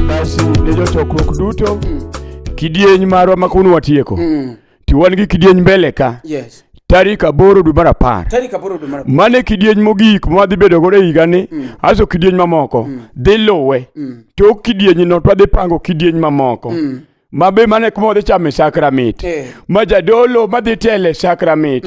Basi ne jotokruok duto kidieny marwa ma kawuono watieko Mm. to wan gi kidieny mbele ka Yes. tarik aboro dwe mar apar Tarik aboro dwe mar apar. mane kidieny mogik mwadhi bedo godo e higani aso kidieny mamoko dhi luwe tok kidienyno twadhi pango kidieny mamoko mabe mane kuma wadhi chame sakramit Eh. ma jadolo madhi tele sakramit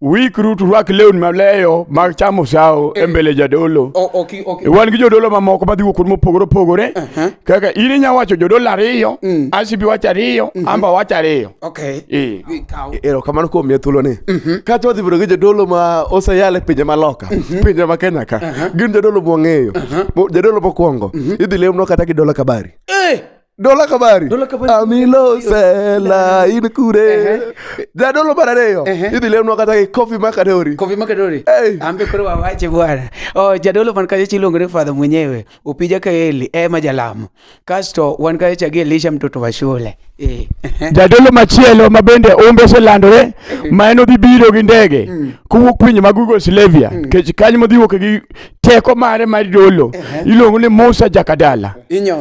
Uikru turwak lewni maleyo mag chamo sawo e eh. mbele jadolo. Okay, okay. E, wan gi jodolo mamoko madhi wuok kuonde mopogore opogore. Uh -huh. Kaka in inya wacho jodolo ariyo, mm. Asibi wacho ariyo, uh mhm. -huh. Amba wacho ariyo. Okay. E. E, ero kamano kuom miya thuolo ni. Uh mhm. -huh. Kata wadhi bedo gi jodolo ma oseyal e pinje maloka, uh mhm. -huh. pinje ma Kenya ka. Uh -huh. Gin jodolo mwang'eyo. Uh -huh. Jadolo mokwongo. Uh -huh. Idhi lemno kata gi dola kabari. Eh! Dolo la kabari. Dolo la kabari. Amilo sela in kure. Da dolo bara leo. Idi leo nwakata ki kofi makadori. Kofi makadori. Hey. Ambe kure wa wache bwana. Oh, jadolo man kaje chilongre father mwenyewe. Upija kaeli e eh, majalamu. Kasto wan kaje chagi Elisha mtoto wa shule. Eh. Jadolo machielo mabende umbe se landore ma en odhi biro gi ndege mm. kowuok pinje mag Yugoslavia mm. kech kanyo modhi wuok gi teko mare mar dolo iluongo ni Musa Jakadala.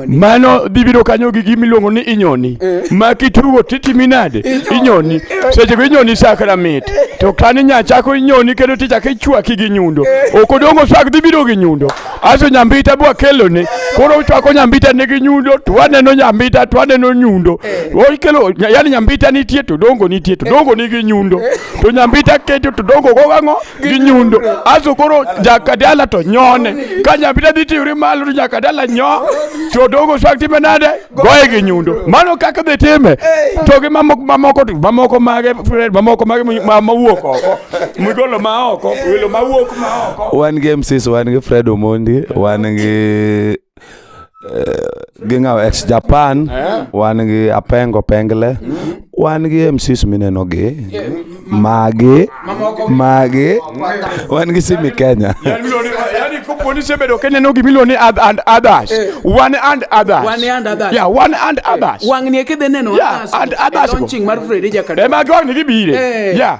Mano dhi biro kanyo gi gima iluongo ni inyoni eh. ma kitugo titimi nade inyoni seche go inyoni sakra mit to kani nyachako inyoni kendo tichako ichwaki gi nyundo eh. ok odongo swak dhi biro gi nyundo aso nyambita bwa kelone koro ochwako nyambita ne gi nyundo to waneno nyambita to waneno nyundo eh. okelo yani nyambita nitie to dongo nitie to dongo ni gi nyundo to nyambita keto to dongo go ang'o gi nyundo aso koro jakadala to nyone ka nyabita dhi tiwri malo to jakadala nyo to dogo swag time nade goye gi nyundo mano kaka dhi time to gi mamoko mamoko to mamoko mage mamoko mage ma- mawuok oko migolo ma oko welo mawuok ma oko wan gi mcs wan gi fred omondi wan gi eh, gi ngaw ex japan eh? wan gi apengo pengle wan gi mcs mineno gi magi magi wan gi simi kenya kaponi sebedo kenya no gimilo ni and, and others eh. one and others one and others yeah one and eh. others wangni e kidhi neno yeah and others launching mar Freddy Jakadala ema goni gibire eh. yeah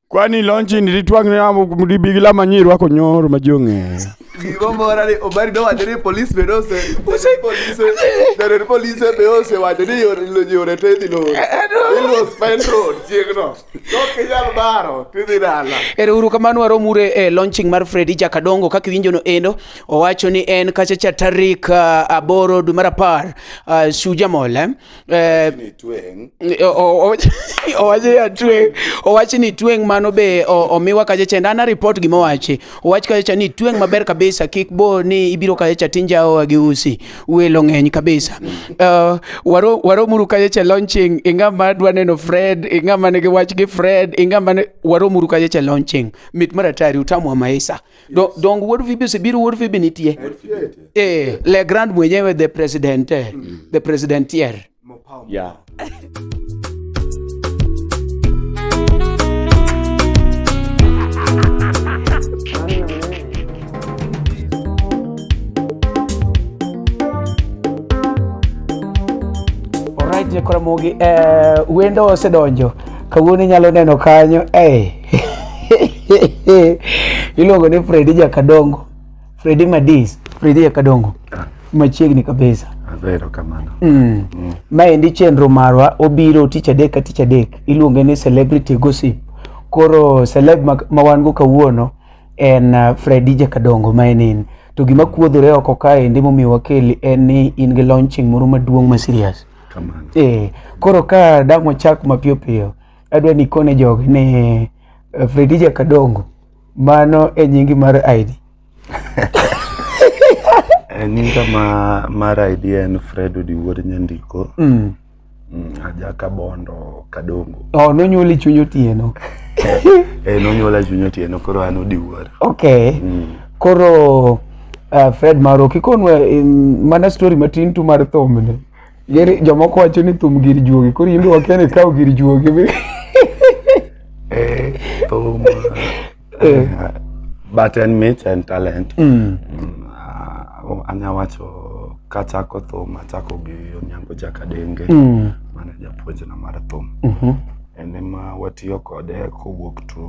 Kwani lonchi ni ritwang ne amo mdibi gila manyi rwako nyoro majong'e. Gigo mora ni obari do wacho ni police be nose. Ose police. Dere police be ose wacho ni yore lo yore te di lo. Ilo spend road chiegno. Dok inyal baro tidhi dala. Ero uru kamano waromure e eh, launching mar Freddy Jakadongo kaka iwinjo no endo owacho ni en kacha cha tarik uh, aboro dwe mar apar uh, ah, Shujamol eh? Eh, Ni tweng'. o- o- o- owache ya tweng' owachi ni tweng' mano be o- omiwa kacha chende ana report gima owachi owach kacha cha ni tweng' maber kabisa kik bo ni ibiro kacha cha tinjaoa gi usi welo ng'eny kabisa uh, waro waromuru kacha cha launching inga ma dwa neno fred inga ma nigi wach gi fred inga ma ne- waromuru kacha cha launching mit maratari utamwa maisa Do, donge wuod Phoebe osebiro wuod Phoebe nitie eh le grand mwenyewe the president eh, the president tier Yeah. Alright, Jekora Mogi, eh, wendo osedonjo. Kawuono inyalo neno kanyo. Eh, iluongo ni Fredi Jakadongo, Fredi Madis, Fredi Jakadongo machiegni kabisa. Azero kamano. Mm. Mm. Maendi chenro marwa obiro tich adek ka tich adek iluonge ni celebrity gossip. Koro celeb ma wan go kawuono en uh, Fredi Jakadongo ma en to gima kuodhore oko kae ndi momiyo wakeli en ni in gi launching moro maduong' ma serious. Kamano. Eh, koro ka dang' wachak mapiyo piyo adwa ni kone jogi ni eh, Fredija Kadongo mano e nyingi mar ID Eh, nyinga ma mar ID en Fred Odiwuor Nyandiko mm. mm, ajaka bondo kadongo oh, nonyuoli chuny otieno e nonyuola chuny otieno koro an Odiwuor okay mm. koro uh, Fred Maro kikonwa um, mana story matin tu mar thomne Geri jomoko wacho ni thum gir juogi, koro in be wakia ni ikawo gir juogi be. Eh, thum. Eh. But en mit en talent. Mm. Mm, ah, Anya wacho kachako thum achako gi Onyango Jakadenge. Mm. Mane japuonjna mar thum. Mhm. en ema watiyo kode kowuok to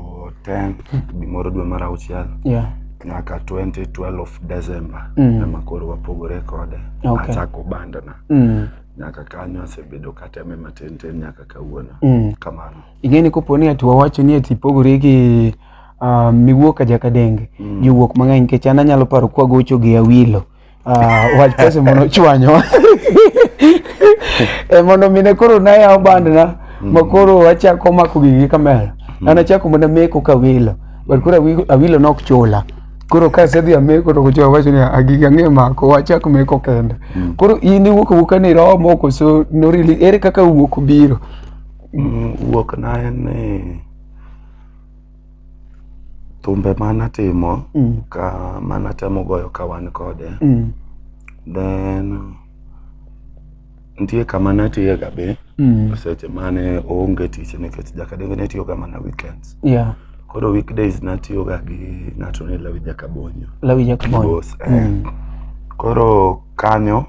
10 gimoro dwe mar auchiel yeah. nyaka 2012 of December mm. ema koro wapogore kode okay. achako bandana mm. nyaka kanyo asebedo kateme matin tin nyaka kawuono mm. kamano ing'eni kopo ni ati wawacho ni ati pogore gi uh, miwuok ajakadenge mm. jowuok mang'eny nikech an anyalo paro kwagocho gi awilo Ah, wach pesa mondo ochwanyo e mondo mine koro nayawo bandna mm. ma koro achako mako gigi gi kamera mm. an achako mana meko kawilo but koro awilo nok chula koro ka asedhi ameko to kocho wacho ni agigi ah, ang'e mako wachak meko kende mm. koro in iwuok awuoka ni romo koso norili ere kaka wuok biro wuok na en ni Thumbe ma natimo mm. ka ma natemo goyo ka wan kode mm. then nitie kama natiye ga be mm. seche mane oonge tich nikech jakadenge ne tiyoga mana weekends yeah. koro weekdays natiyoga gi ng'ato ni lawi jakabonyo lawi jakabonyo eh. mm. koro kanyo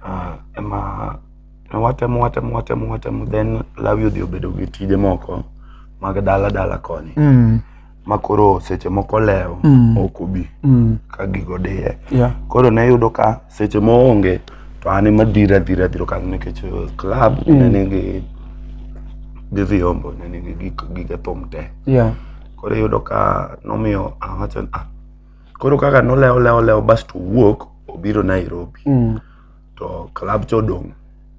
uh, ema Ne watemo watemo watemo watemo then lawi odhi obedo gi tije moko mag dala dala koni Mm. ma koro seche moko lewo Mm. ok obi Mm. ka gigo diye Yeah. koro ne yudo ka seche moonge to an ema dhira dhira dhiro kanyo nikech eh, club ne nigi gi vyombo ne nigi gik- gige thum te Yeah. koro iyudo ka nomiyo awacho ni, ah koro kaka nolewo lewo lewo basto owuok obiro Nairobi Mm. to club cha odong'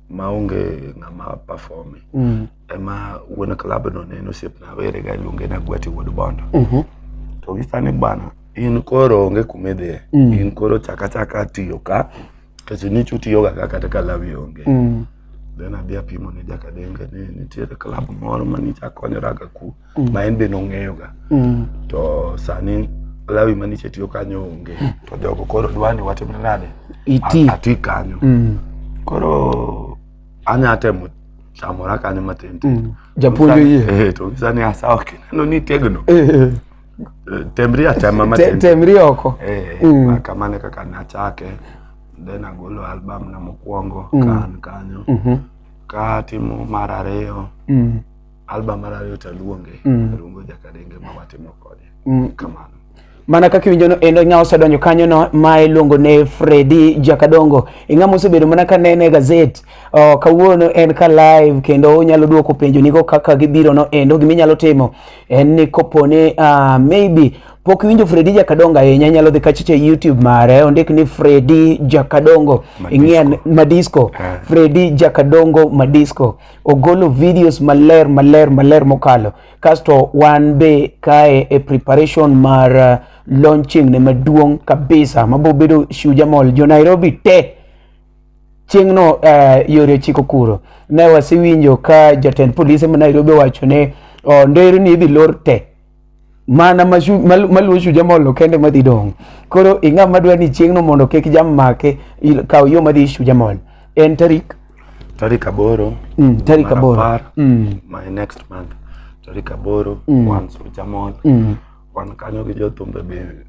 ma onge ng'ama performe Mm. ema wuon club no ne en osiepna werega iluonge ni agwati wuod bondo Mhm. to gisa ni bwana in koro onge kuma idhiye Mm. in koro chaka chaka tiyo ka kech nichu tiyoga ka kata ka lawi onge Mm. then adhi apimo ne jakadenge ni nitiere club moro ma nicha konyoraga ku mm. ma en be nong'eyoga mm. to sani lawi maniche tiyo kanyo onge hmm. to jogo koro dwani watimne nade ati kanyo mm. koro anya temo chamora kanyo matin mm. japuonjo yie eh, to sani asawa kineno ni tegno eh, eh. temri atema matin temri oko eh, mm. kamane kaka nachake then agolo album na mokwongo mm. kan kanyo mm -hmm. katimo mar ariyo mm. album mar ariyo taluonge mm. luongo jakadenge ma watimo kode mm. kamano mana kaka iwinjono endo ng'a osedonjo kanyono ma iluongo ne Fredi Jakadongo ing'a mosebedo mana ka nene e gazet oh, kawuono en ka live kendo onyalo duoko penjo nigo kaka gibirono endo gima inyalo timo en ni kopone uh, ah, maybe pok iwinjo Fredi Jakadongo ahinya inyalo dhi kachicha e YouTube mare ondik ni Fredi Jakadongo ing'e Madisco Fredi Jakadongo Madisco ogolo videos maler maler maler mokalo kasto wan be kae e preparation mar uh, launching ne maduong' kabisa mabiro bedo Shujaa Mall jo Nairobi te chieng'no uh, yore ochiko kuro ne wasewinjo ka jatend polise ma Nairobi owacho ne oh, nderni idhi lor te mana maluwo chuja molo kende madhi dong' koro ing'a madwa ni chieng'no mondo kik jam make kaw yo madhi chuja mol en tarik tarik aboro mm, tarik aboro mm. my next month tarik aboro mm. wan chuja mol mm. wan kanyo gi jothumbe be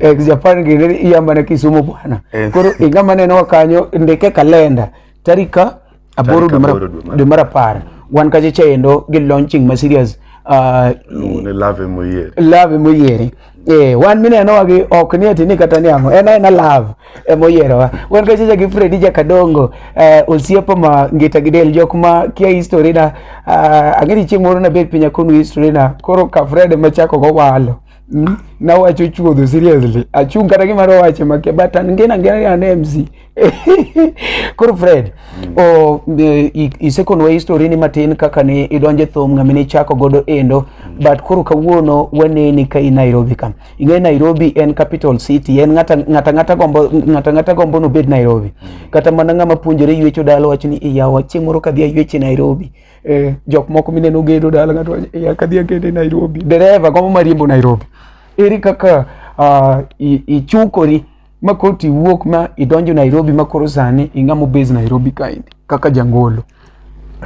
eh, Japan gini iya mana Kisumu bwana eh. Koro inga mana no kanyo ndike kalenda tarika aboro dwe mar apar wan kache chendo gi launching ma serious uh, love moyiere love moyiere Eh, wan mineno wagi ok ni ati ni kata ni ang'o en aena love ema oyierowa wan kachacha gi Fredi Jakadongo eh, osiepa ma ngita gi del jok ma kia history na uh, ang'e ni chieng' moro nabed piny akonu history na koro ka Fred ema chako go walo Mm, na wacho chuodho seriously achung kata gima ro wache make but an ngena ngena an MC koro Fred mm. o isekonwa history ni matin kaka ni idonje thum ngami ni chako godo endo mm. but koro kawuono waneni ka i Nairobi kam ing'e Nairobi en capital city en ngata ngata ngata gombo ngata ngata gombo no bed Nairobi mm. kata mana ngama puonjore ywecho dalo wacho ni iyawa chieng' moro kadhi ayweche Nairobi eh, jok moko mineno gedo dala ng'ato wacho eh, akadhi akete Nairobi dereva gombo mariembo Nairobi eri kaka uh, ichukori ma koro tiwuok ma idonjo Nairobi ma koro sani ing'amo base Nairobi kaendi kaka jangolo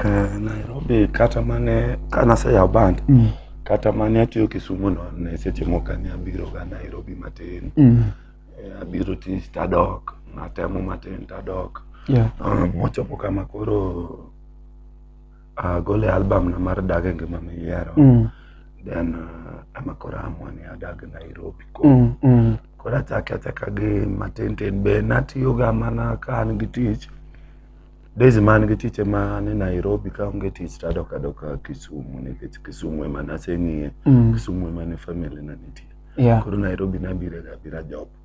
eh, Nairobi kata mane kanaseyawo band mm. kata mane atiyo Kisumu no ne seche moko ne abiro ga Nairobi matin mm. eh, abiro tich tadok natemo matin tadok yeah. uh, mochopo kama koro agole ah, album na mar dag e ngima miyiero mm. then uh, ama koro amwa ni adag nairobi ko mm, mm. koro achake achaka gi matintin be natiyoga mana ka an gi tich days man gi tich ema ni nairobi ka onge tich tadok adoka kisumu nikech kisumu ema naseng'iye mm. kisumu ema ne family na nitie yeah. koro nairobi nabirega bira job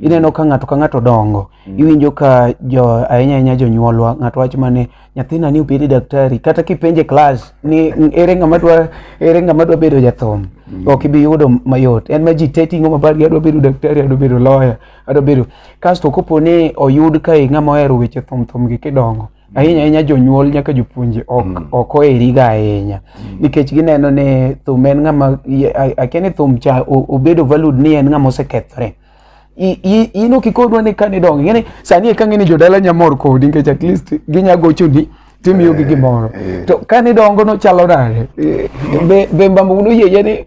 ineno ka ng'ato ka ng'ato dongo mm. iwinjo ka jo ahinya ahinya jonyuolwa ng'ato wacho mane nyathina ni obedi daktari kata kipenje klas ni ere ng'ama dwa ere ng'ama dwa bedo jathum mm. ok ibi yudo mayot en ma ji te ting'o mabar gi adwa bedo daktari adwa bedo lawyer adwa bedo kasto kopo ni oyud ka ng'ama ohero weche thum thum gi kidongo ahinya ahinya jonyuol nyaka jopuonje ok mm. ok oheriga ahinya mm. nikech gineno ni thum en ng'ama akia ni thum cha obedo valued ni en ng'ama osekethore ino kikodwa ni kane donge ng'eni sani eka ng'eni jodala nyamor kodi nikech at least ginya gochoni timiyogi eh, gimoro eh. to kane dongo nochalo nade eh. be mbambo unoyie ni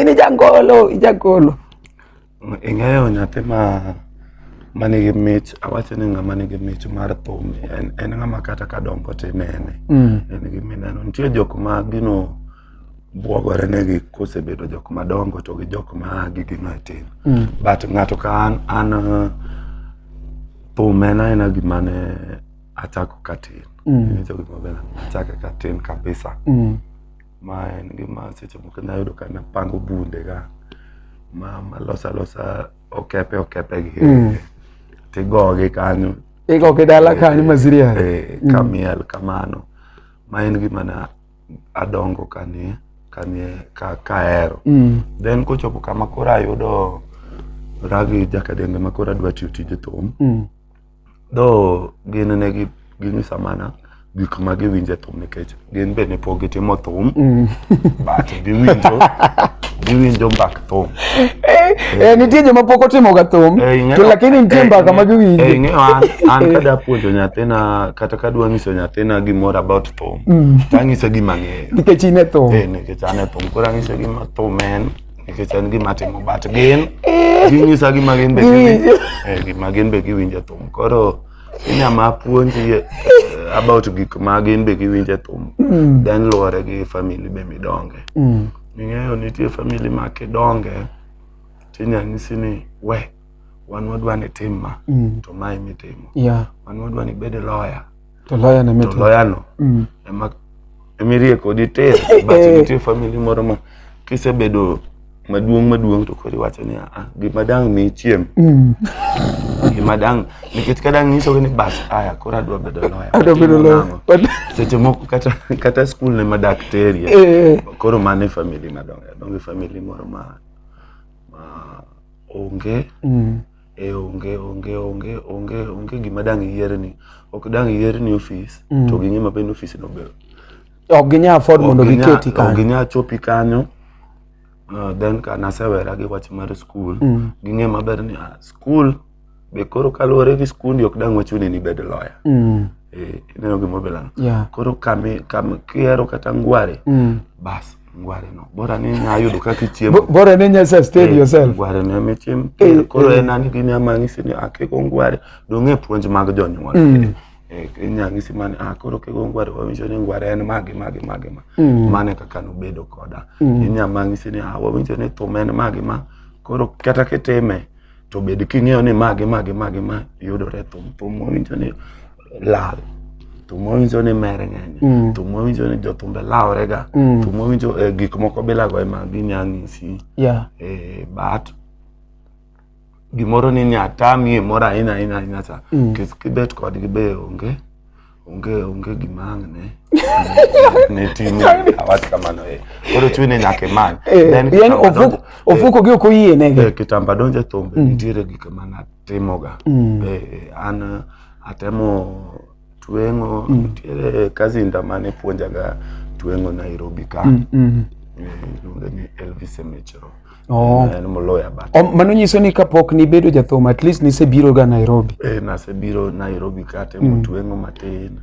ini jangolo ijagolo Ing'eyo nyathi ma manigi mich awacho ni ng'ama nigi mich mar thum en, en ng'ama kata ka dongo tinene mm. en gi mineno nitie jok ma gino bwogore negi kosebedo jok madongo to gi jok ma gigino e tin mm. but ng'ato ka an an thum en aena gima ne achako katin mm. nicho gima bena achake katin kabisa mm. Ma en gima seche moko inya yudo ka napango bunde ga ma malosa losa okepe okepe gi mm. tigogi kanyo igogi dala eh, kanyo maziria e, eh, mm. kamiel kamano ma en gima na adongo kanie kanie ka kaero mm. then kochopo kama koro ayudo ragi jakadenge ma koro adwa tiyo tije thum mm. Though gin ne gi ginyisa mana gik ma giwinje thum nikech gin be ne pok gitimo thum mm. but giwinjo giwinjo mbak thum eh, eh, nitie joma pok otimoga thum eh, to lakini nitie mbaka ma giwinjo an kada puonjo nyathina kata kadwa nyiso nyathina gimoro about thum mm. tang'ise gima ng'eyo nikech in e thum nikech an e thum koro ang'ise gima thum en nikech en gima timo but gin ginyisa gima gin be giwinjo eh, gima gin be giwinjo thum koro inyama puonji eh, about gik ma gin be giwinjo thum mm. then luwore gi family be midonge mm. ing'eyo nitie family ma kidonge tinya nyisi ni we wan wadwa ni tim ma mm. to ma imitimo yeah. wan wadwa ni bed lawyer To loya ne mit. To loya no. Mm. Ema emirie kodi tir but nitie family moro ma kisebedo maduong' maduong' to kori wacho ni ah, gima dang' mi chiem mm. gima dang' nikech ka dang' nyisogi ni bas aya koro adwa bedo loya adwa bedo loya seche moko kata kata skul ne ma daktari eh, eh. koro mano e famili madongo donge famili moro ma ma onge mm. e onge onge onge onge onge gima dang' iyierni ok dang' iyierni ofis mm. to ging'e maber ni ofis no ber ok ginya afford mondo giketi kanyo ok ginya chopi kanyo uh, then ka nasewera gi wach mar skul mm. ging'e maber ni ah, skul be koro kaluwore gi skundi ok dang' wachuni ni bed loya mm. eh, ineno gimobelano yeah. koro kihero kata ngware mm. bas ngware no bora ni nya yudo kaka ichiemo bora ni nya sustain eh, yourself ngware no mi chim eh, eh, koro en ani gini amanyi sini akeko ngware donge puonj mag jonyuol mm. eh inya ngisi mane ah koro kego ngware wawinjo ni ngware en magi magi magi ma mm. mane kaka no bedo koda mm. inya mangi sini ah wawinjo ni thum en magi ma koro kata kitime to bed king'eyo ni magi magi magi ma yudore thum thum mowinjo ni lal thum mowinjo ni mere ng'eny mm. thum mowinjo ni jothumbe laworega mm. thum mowinjo eh, gik moko bilago ema ginya ng'isi yeah. eh, but gimoro ni nyatami e moro ahinya ahinya ahinya cha mm. kibet kodgi be onge onge onge gima ang' ne ne timi awach kamano eh koro chuni nyaka imany eh, then yani ofuko ofuko gi oko yie nege eh, kitamba donje thumbe mm. nitiere gik ma natimoga mm. eh, eh an atemo tweng'o mm. nitiere kazinda mane puonjaga tweng'o Nairobi ka mm, mm. Eh, iluonge ni Elvis Emechero Oh. En moloya but. Oh, mano nyiso ni kapok nibedo jathum at least nisebiro ga Nairobi. Eh, nasebiro Nairobi kate mm. motwengo matin.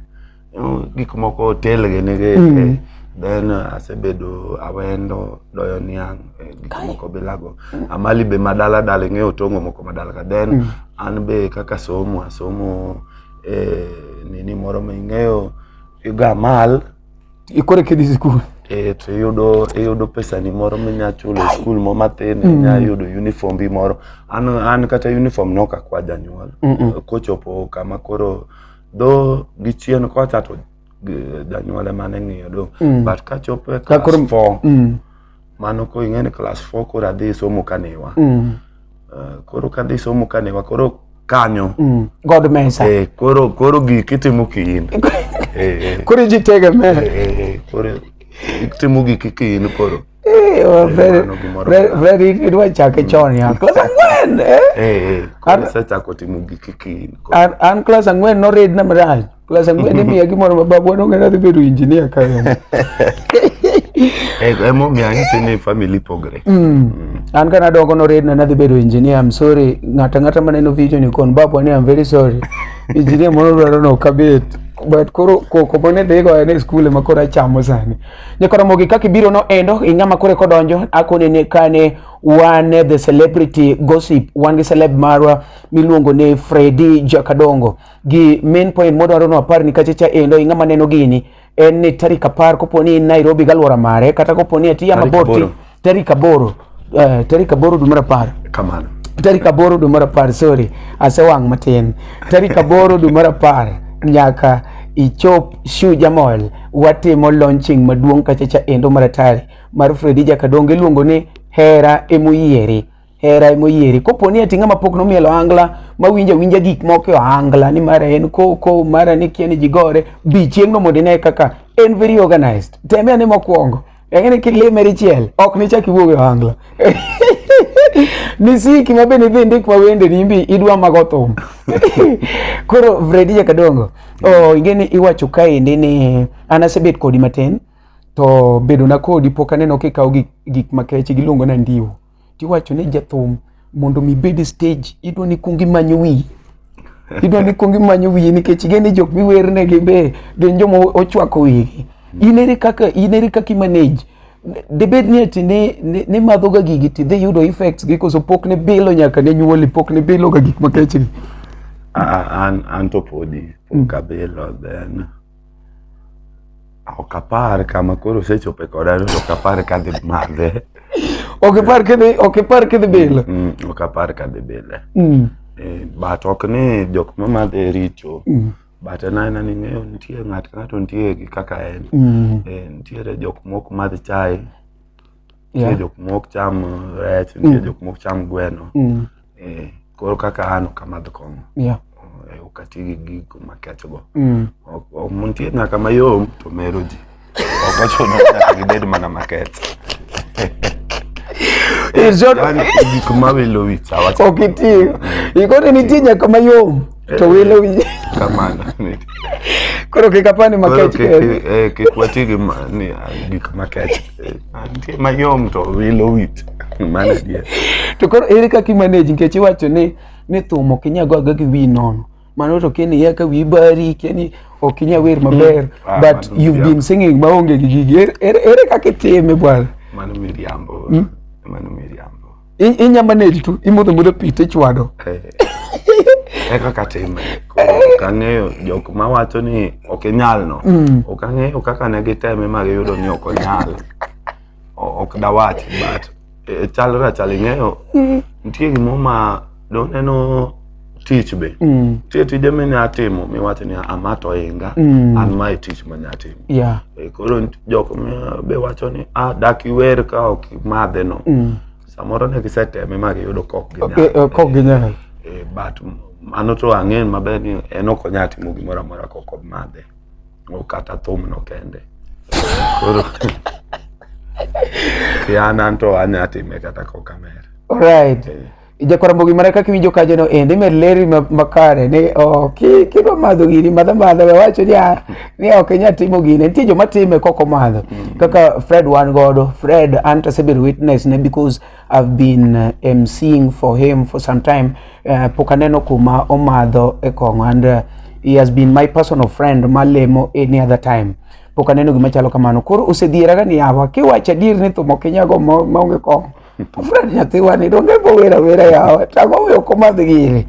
Gik moko telge nige. Mm. Eh, then uh, asebedo awendo doyo niang eh, gik moko bilago mm. amali be madala dala ing'eyo tongo moko madala ka then mm. an be kaka somo asomo eh, nini moro ma ing'eyo yuga amal ikore kidhi sikul eh, to iyudo iyudo pesani moro minya chulo e skul mo mathin mm. inya yudo uniform bi moro an, an kata uniform noka kwa janyuol mm -mm. kochopo kama koro dho gi chien kocha to janyuol ema ne ng'iyo do mm. but kachopo e class 4 mm. mano koro ing'e ni klas four koro adhi somo kanewa mm. uh, koro kadhi somo kanewa koro kanyo mm. god mesa eh, koro koro gik itimo kiin eh, eh. koro iji tegeme eh, eh, eh, koro itimo gik kiin koro Eh, oh, very, very, very, idwa chake mm. chon ya klas ang'wen eh? Eh, eh, koro isechako timo gik kiin koro. an, an klas ang'wen noridna marach Klas ang'wen imiya gimoro ma babwa nong'eyo adhi bedo injinia ka en. Eh, emomiyo anyisi ni family pogre Mm. An kana dongo noredna nadhi bedo engineer. I'm sorry. Ng'ata ng'ata maneno video ni kon babwa ni I'm very sorry. Engineer moro dwaro no kabet. But koro koko mane dhigo en e skul ema koro achamo sani. Nyakora mogi kaka ibiro no endo ing'ama kore kodonjo akone ne kane wan the celebrity gossip wan gi celeb marwa miluongo ni Freddy Jakadongo. gi main point modwaro ni wapar ni kachecha endo ing'ama neno gini en ni tarik apar kopo ni in Nairobi galwora mare kata kopo ni atiya Tarik mabor ti aboro. tarik aboro eh, tarik aboro dwe mar apar kamano tarik aboro dwe mar apar sorry asewang' matin tarik aboro dwe mar apar nyaka ichop shuja mall watimo launching maduong' kachacha endo mar atari mar Fredija Kadongo iluongo ni hera emoyieri hera e moyieri kopo ni eti ng'ama pok nomielo angla ma winja winja gik moko e angla ni mara en koko mara ni kia ni jigore bi chieng'no mondo ine kaka en very organized teme ane mokwongo eng'eni kilimeri chiel ok nichak iwuog e angla nisiki ma bende idhi ndik ma wende ni imbi idwa mago thum koro vredi jakadongo oh, ingeni iwacho kaendi ni an asebet kodi matin to bedona kodi pok aneno kikawo gik, gik makeche giluongo na ndiwo tiwacho ne jathum mondo mi bed e stage idwa ni kuong imanyo wiyi idwa ni kuong imanyo wiyi nikech igeno ni jok miwernegi be gin joma ochwako wigi in ere kaka in ere kaka imanage debed ni ati ne, ne, ne madhoga gigi tidhi yudo effects gi koso pok ne bilo nyaka ne nyuoli pok ne biloga gik makechni Ah, an, an to podi pok abilo then Ok apar ka ma koro osechope koda no to ok apar ka dhi madhe. Ok apar ka dhi ok apar ka dhi bile. Mm, mm, ok apar ka dhi bile. Mm. Eh, but ok ni jok ma madhe richo. Mm. But en aena ni ng'eyo nitie ng'at ka ng'ato nitie gi kaka en. Mm. Eh, nitiere jok mok madh chae. nitie Yeah. jok mok cham uh, rech nitie Mm. jok mok cham gweno Mm. eh, koro kaka an ok amadh kong'o Yeah. eh, ok ati gi gigo makechgo Mm. Ok- ok- nitie nyaka mayom to mero ji ok ochuno ni nyaka gibed mana makech In short, yani gik mawilo wich awacho ok iti. Ikoni nitie nyaka mayom. eh, to wilo eh, winje kamano koro kik apani makech eh, kik wati gi gik makech nitie mayom to wilo wit mano adier to koro ere kaka imanage nikech iwacho ni ni thum ok inyal goga gi wi nono mano to keni ya ka wi bari keni ok inyal wer maber mm. ah, but you've been singing maonge gi gigi ere kaka itime bwana mano miriambo hmm? mano miriambo I- inya manage tu imodho modho pi tichwado e kaka time koro ok ang'eyo jok ma wacho ni ok inyal no ok ang'eyo kaka ne giteme ma giyudo ni ok onyal O- ok dawach but e, chalre achal ing'eyo nitie gimoro ma doneno tich be mm. tie tije minya timo miwacho ni ama to inga mm. an mae tich manya timo yeah. e, koro jok be wacho ni ah, dak iwer ka ok imadhe no mm. samoro ne giseteme ma giyudo kok ginyal e, but mano to ang'eyo maber ni en ok onya timo gimoro amora kok omadhe kata thum no kende koro kiana to anya time kata kokamer right yeah. Ijakwara mbogi mana kaka iwinjo kajono ende med leri ma- makare ni oh, ki- kidwa madho gini madha madha we wacho ni ah, ni ok inyal timo gini nitie joma time kok omadho kaka fred wan godo fred an to asebedo witness ne because i've been uh, mcing for him for some time uh, pok aneno kuma omadho e kong'o and uh, he has been my personal friend malemo any other time pok aneno gima chalo kamano koro osedhieraga ni yawa kiwacho adier ni thum ok inyago ma- maonge kong'o Fred nyathewani donge bo wera wera yawa tang'o we ok omadh gini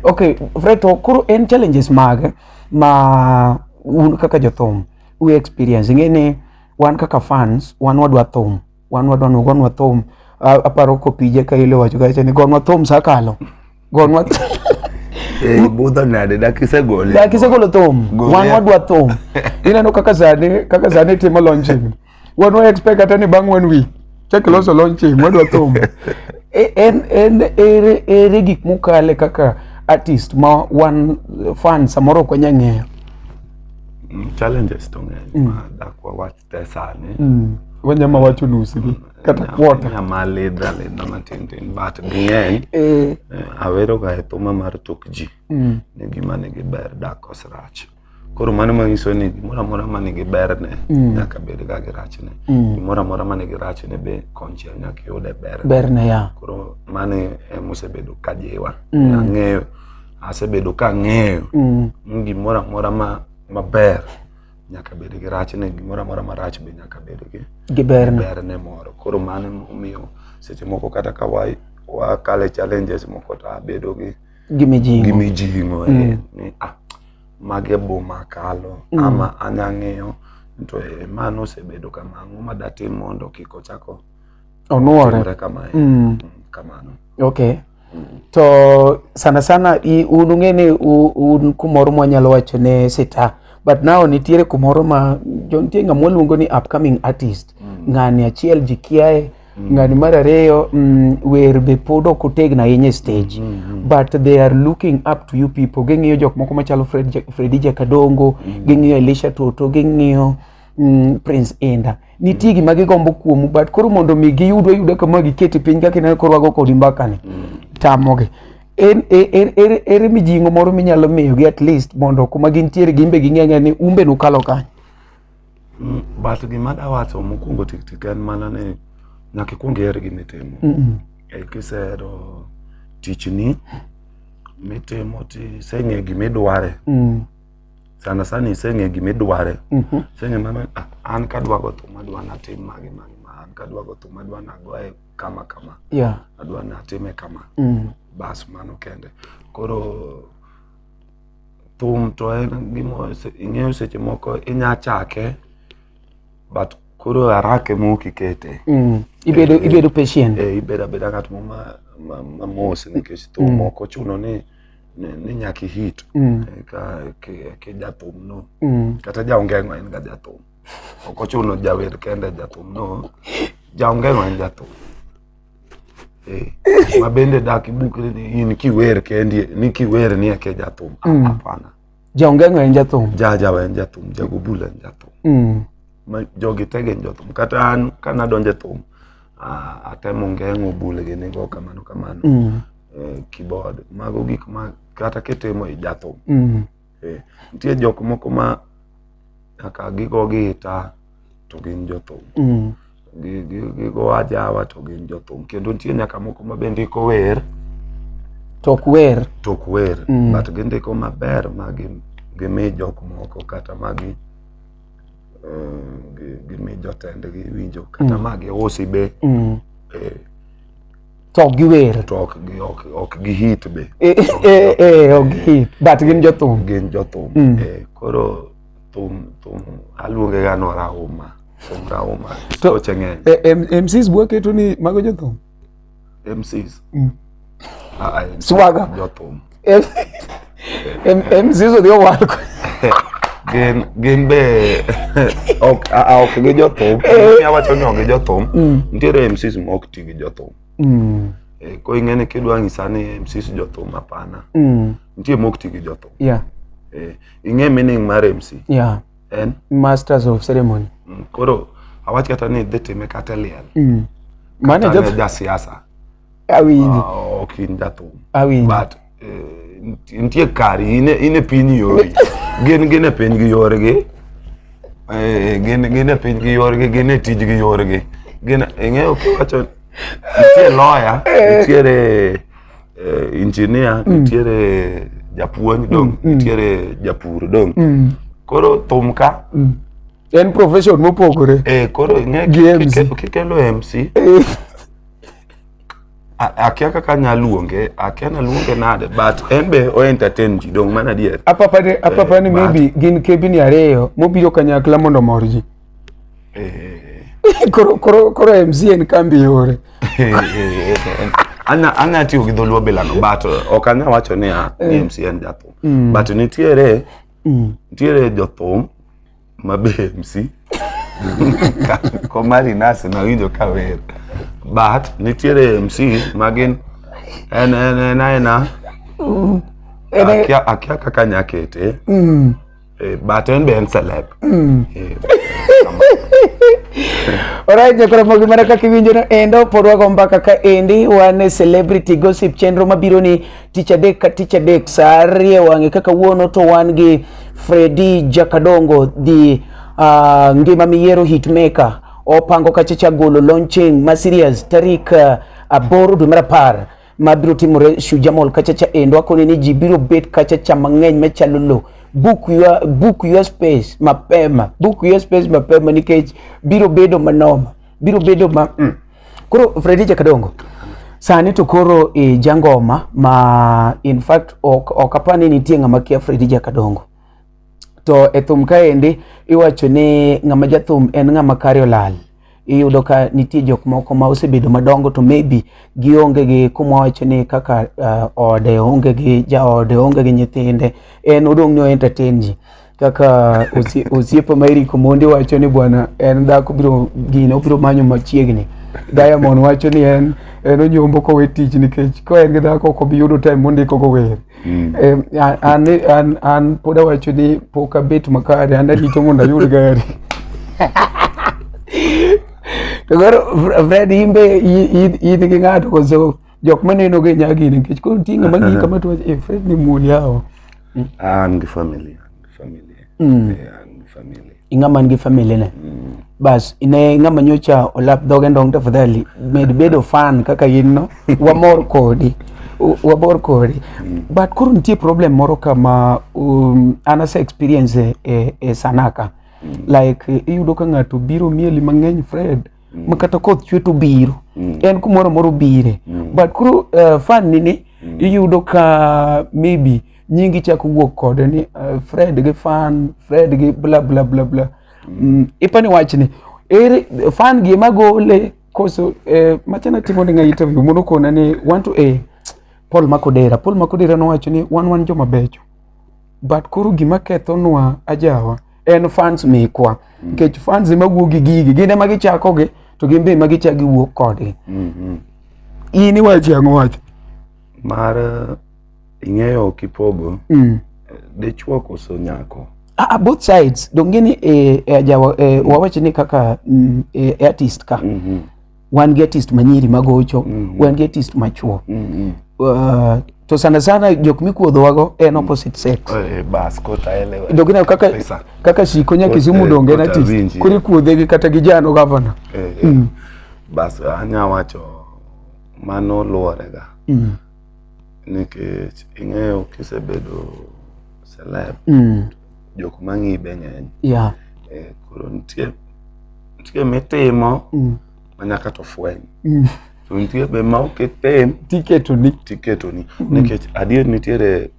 okay Fred to koro en challenges mage ma un kaka jothum u experience ing'e ni wan kaka fans wan wadwa thum wan wadwa nugo nwa thum A- aparo kopije ka ile wacho kacha ni gonwa thum sakalo gonwa Eh, budho nade dak isegole dak isegolo thum Gole. wan wadwa thum ineno kaka sani kaka sani timo launching wan wa expect kata ni bang' one week chak loso launching wadwa thum E- en en ere ere gik mukale kaka artist ma wan eh, fan samoro ok wanya ng'eyo Mm, challenges to ng'eny ma dak wawach te sani mm. wanyama wacho nusgi kata quarter nyama lidha lidha matin tin but ging'eny eh, eh, aweroga e thuma mar tuk ji mm. ni gima nigi ber dak kos rach Koro mano manyiso ni gimoro amora ma nigi berne mm. nyaka bed ga gi rachne. Mm. Gimoro amora ma nigi rachne be konchiel nyaka yude berne. Berne ya. Koro mano ema osebedo ka jiwa. Mm. Ang'eyo asebedo ka ang'eyo mm. ni gimoro amora ma maber nyaka bed gi rachne, gimoro amora marach be nyaka bed gi gi berne. Berne moro. Koro mano omiyo seche moko kata ka wa wakale challenges moko to abedo gi gi mijing'o gi mijing'o eh, mm. ni ah, mage boma kalo mm. ama anya ng'eyo to eh, mano osebedo kamano ma datim mondo kik ochako onuore kamae mm. mm. kamano okay mm. to sana sana un ung'e ni un kumoro mwanyalo wacho ne sita but now nitiere kumoro ma nitie ng'ama waluongo ni upcoming artist mm. ng'ani achiel ji kiaye Mm. Ngani mar ariyo mm, wer be pod ok otegna ahinya e stage mm, mm, mm. but they are looking up to you people ging'iyo jok moko machalo Fred, Fredi Jakadongo mm. ging'iyo Elisha Toto ging'iyo mm, Prince Inda nitie mm. gima gigombo kuomu but koro mondo mi giyudwa yuda kama gikete piny kaka ineno koro wago kodi mbakani mm. tamogi ere er, er, er, mijing'o moro minyalo miyogi at least mondo kuma gintiere gimbe ging'e ni umbe nukalo kanyo But gima dawacho mokwongo tik tik en mana ni nyaka ikwong iher gima itimo. E kisehero tichni mitimo tiseng'e gima idware. Sana sana iseng'e gima idware. Iseng'e mana "Ah, an kadwa go thum adwa natim magi magi ma an kadwa go thum adwa nagoye kama kama. Yeah. Adwa natime kama. Bas mano kende. Koro Thum to en gima ing'eyo seche moko inya chake but koro haraka ema ok ikete. Mm. Ibedo eh, eh, ibedo patient. Eh, ibedo abeda ng'at mo ma ma mos nikech thum mm. ok ochuno ni ni nyaka ihit mm. eh, ka ke jathum no mm. kata jaongengo en ga jathum ok ochuno jawer kende jathum no jaongengo en jathum Eh, ma bende dak ibuk ni in kiwer kendi ni kiwer ni eke jathum Ah, Mm. hapana Jaongengo en jathum. jajawa en jathum jagobula en jathum Mm. ma jogi tege en jathum kata an kana donje thum ah, atemo ngeng'o bulege nigo kamano kamano Mm. eh, keyboard mago gik ma kata kitimo i jathum Mm. Eh, nitie jok moko ma kaka gigo gi ita to gin jothum mm. gigo ajawa to gin jothum kendo nitie nyaka moko ma bende iko wer tok wer tok wer mm. but gindiko maber ma gimi jok moko kata magi eh, gimi jotendgi winjo kata mm. ma giusi be mm. eh, to ok giwer to ok gi ok ok gi hit be Eh, eh, eh, ok gihit but gin jothum gin jothum Mm. eh, koro thum thum aluonge ga no rauma thum rauma To- weche ng'eny Eh, em- mcs bwa keto ni mago jothum MCs Mm. Ah, ah, MCs Swaga. jothum emzizo dhi owal gin gin be ok a ok gi jothum eh. awacho ni ok gi jothum mm. nitiere MCs ma ok ti gi jothum mm. eh, ko ing'e ni kidwa ng'isa ni MCs jothum hapana mm. nitie ma ok ti gi jothum yeah. eh, ing'e meaning mar MC yeah. en masters of ceremony mm, koro awach kata ni dhi time kata liel mm. mane jasiasa awinji ah, ok in jathum awinji but eh, nitie kari in e piny yori gin gin e piny gi yorgi eh, gin gin e piny gi yorgi gin e tij gi yorgi gin ing'eyo kiwacho nitie lawyer eh. nitiere engineer mm. nitiere japuonj dong mm, mm. nitiere japur dong koro thum ka en profession mopogore eh koro ing'e Gi kike- MC. kike- kikelo mc Eh, A- akia kaka nya luonge akia na luonge nade but en be o entertain ji dong mana adier apapa ni- apapa ni Eh, but- maybe gin kebini ariyo mobiro kanyakla mondo omor ji Eh, koro koro koro mc en kambi yore eh, eh, eh. Anya- anya tiyo gi dholuo bilano but eh, ok anya wacho ni ah, ni mc en jathum but nitiere Mm. Nitiere jothum ma be MC komari nasi nawinjo ka wer but nitiere MC ma gin en en en aena mm. akia akia kaka nya kete mm. eh, but en be en celeb mm. eh, Alright, nyakora mogi mana kaka iwinjono endo pod wago mbaka ka endi wan e celebrity gossip chenro mabiro ni tich adek ka tich adek saa ariyo e wang'e kaka wuono to wan gi Fredi Jakadongo the uh, ngima miyiero hitmaker opango kacha cha golo launching ma serious tarik uh, aboro dwe mar apar mabiro timore Shujaa Mall kacha cha endo akoni ni ji biro bet kacha cha mang'eny machalo lo book your, book your space mapema book your space mapema nikech biro bedo manoma biro bedo ma mm. Koro Fredi Jakadongo, sani to koro e jangoma ma in fact ok, ok apa ni nitie ng'ama kia Fredi Jakadongo. To e thum kaendi iwacho ni ng'ama jathum en ng'ama kare olal. Iyudo ka nitie jok moko ma osebedo madongo to maybe gionge gi kuma wacho ni kaka uh, ode onge gi jaode onge gi nyithinde en odong' ni o entertain ji kaka osiepa ma Eric Omondi wacho ni bwana en dhako biro gino obiro manyo machiegni Diamond wacho ni en en onyombo kowe tich nikech ka en gi dhako ok obi yudo time mondiko go wer mm. an an an pod awacho ni pok abet makare an arito mondo ayud gari to koro Fred imbe in gi ng'ato koso jok ma neno ga nyagi nikech koro nitie ng'ama ng'iyi kama to wacho, "Eh, Fred ni muol yawa Ah, an gi family an gi family Eh, an gi family ing'ama nigi family ne bas ine ng'ama nyocha olap dhoge ndong tafadhali med bedo fan kaka in no wamor kodi U- wamor kodi but koro nitie problem moro kama um, an ase experience e, e, e sanaka like eh, iyudo ka ng'ato biro mieli mang'eny fred mm. ma kata koth chwe to biro mm. en kumoro moro bire mm. but koro uh, eh, fan ni ni mm. iyudo ka maybe nyingi chako wuok kode ni uh, Fred gi fan Fred gi bla bla bla bla mm. mm. ipani wach ni ere fan gi ema gole koso eh, machana timo ni nga interview mono kona ni want to eh, Paul Makodera Paul Makodera nowacho ni wan wan joma becho but koro gima kethonwa ajawa en fans mekwa mm. nikech fans ema wuok gi gigi gin ema gichako gi to gin be ema gichak giwuok kodgi mm-hmm. in iwacho ang'o wacho mar eh, ing'eyo kipogo mm. Eh, dichwo koso nyako Ah, ah, both sides dongeni eh, eh, eh, wawach ni kaka mm, eh, artist ka mm -hmm. wan gi artist manyiri magocho mm -hmm. wan gi artist machuo mm -hmm. uh, to sana sana jok mikuodhowago en opposite sex eh, eh, dok ineno kaka, kaka shiko nya kisumu eh, donge en artist koro ikuodhegi kata gi jano gavana mm. bas anya wacho mano luworega mm. Nikech ing'eyo kisebedo celeb, mm. jok mang'i be ng'eny. Yeah. Eh, koro nitie nitie mitimo mm. ma nyaka to fweny. Mm. To nitie be ma ok itim. Tiketoni. Tiketoni. Mm. Nikech adier nitiere